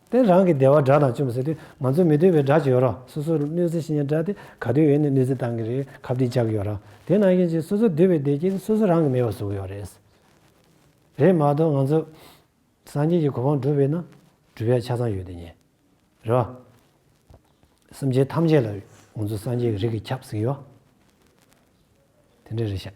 [SPEAKER 1] དེ་རང་གི་བདེ་བ་སྒྲ་དང་བཅོམ་ཟེར་ཏེ་ང་ཚོ་མི་སྡོད་པའི་སྒྲ་ཅིག་ཡོད་རོགས་སོ་སོར་གནོད་འཚེ་ཤི་ཉེན་སྒྲ་དེ་ག་དུས་ཡོད་ནས་གནོད་འཚེ་བཏང་གི་རེད་ཁ་བསྒྲིགས་བཅག་གི་ཡོད་རོགས་དེ་ནང་བཞིན་ཅིག་སོ་སོ་སྡོད་པའི་བདེ་སྐྱིད་དེ་སོ་སོ་རང་གིས་མེད་པར་བཟོ་གི་ཡོད་རེད། རེད་མ་གཏོགས་ང་ཚོ་སངས་རྒྱས་ཀྱི་གོ་འཕང་བསྒྲུབ་བའི་ནང་འགྲུལ་བའི་ཆ་ཚང་ཡོད་དེ་ཉེ་རེད་བ། སེམས་ཅན་ཐམས་ཅད་ལ་ང་ཚོ་སངས་རྒྱས་ཀྱི་རིགས་ཀྱི་ཁྱབ་ཟིག་ཡོད་དེ་འདྲ་རེད་ཤག།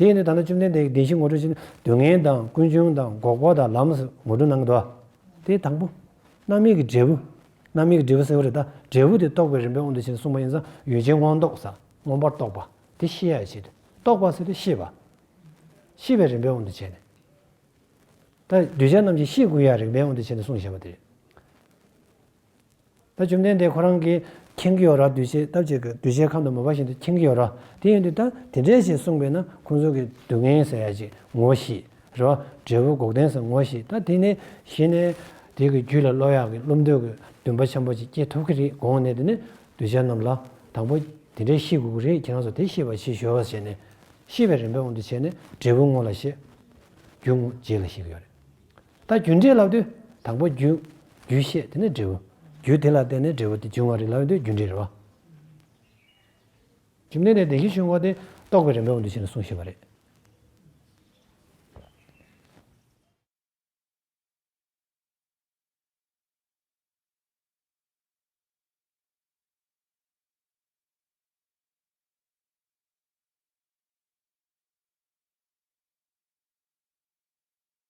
[SPEAKER 1] དེས་ནི་ད་ནི་བཅོམ་ལྡན་འདས་ཀྱིས་བདེན་བཞི་ངོ་སྤྲོད་ཅིང་སྡུག་བསྔལ་དང་ཀུན་འབྱུང་དང་འགོག་པ་དང་ལམ་ངོ་སྤྲོད་གནང་གི་དོ། དེའི་དང་པོ། རྣམ་དབྱེ་གི་འབྲས་བུ། རྣམ་དབྱེ་གི་འབྲས་བུ་སེལ་བ་རེ་ད་འབྲས་བུ་དེ་རྟོགས་པའི་རིམ་པའི་དབང་དུ་བྱས་ནས་གསུངས་པ་ཡིན་ཙང་ཡུལ་ཅན་དབང་རྟོགས་སམ་མངོན་པར་རྟོགས་པ་དེ་ཤེས་ཡ་བྱེད་དུ་རྟོགས་པ་སེལ་ཏེ་ཤེས་པ། ཤེས་པའི་རིམ་པའི་དབང་དུ་བྱས་ནས། ད་གདུལ་བྱ་རྣམས་ཀྱི་ཤེས་ཀུན་ཡང་རིགས་པའི་དབང་དུ་བྱས་ནས་གསུངས་ཞེས་པ་དེ་རེད། ད་བཅོམ་ལྡན་འདས་ཁོ་རང་གིས་མཁྱེན་གྱི་ཡོད་ར་འདུས་བྱས་ཐམས་ཅད་ཀྱི་འདུས་བྱས་ཁམས་དང་མོས་པ་བཞིན་དུ་མཁྱེན་གྱི་ཡོད་ར་དེ་ཡིན་དུས་ད་དེ་འདྲས་ཞེས་གསུངས་པས་ན་ཁོང་ཚོ་གིས་སྡུག་བསྔལ་ཟ་ཡ་ཅིག་ངོ་ཤེས་རེད་བ་འབྲས་བུ་འགོག་བདེན་ཟེར་ངོ་ཤེས་ད་དེ་ནས་གཞི་ནས་དེ་གི་རྒྱུད་ལ་བློ་ཡག་གི་བློ་འདོད་གི་འདུན་པ་ཆེན་པོ་ཅིག་སྐྱེ་ཐུབ་ཀྱི་རེད་དགོངས་ནས་དེ་ནས་གདུལ་བྱ་རྣམས་ལ་དང་པོ་དེ་འདྲས་ཤེས་དགོས་ཀྱི་རེད་ཁྱེད་རང་ཚོ་དེ་ཤེས་པ་ཕྱིས་གཞོལ་བ་བྱས་ནས་ཤེས་པའི་རིམ་པའི་དབང་དུ་བྱས་ནས་འབྲས་བུ་དངོས་ལ་ཤེས་རྒྱུ་དངོས་རྗེས་ལ་ཤེས་ཀྱི་ཡོད་རེད། ད་རྒྱུ་འབྲས་ལབ་དུས་དང་པོ་རྒྱུ། རྒྱུ་ཤེས་དེ་ནས་འབྲས་བུ། རྒྱུ་དེ་ལ་བརྟེན་ནས་འབྲས་བུ་དེ་འབྱུང་བ་རིགས་ལབ་དུས་རྒྱུ་འབྲས་རེད་བ། རྒྱུ་འབྲས་དེ་བདེན་བཞི་ཆོས་འགོག་སྟེ་རྟོགས་པའི་རིམ་པའོ་འདི་བཞིན་དུ་གསུངས་ཤེས་པ་རེད།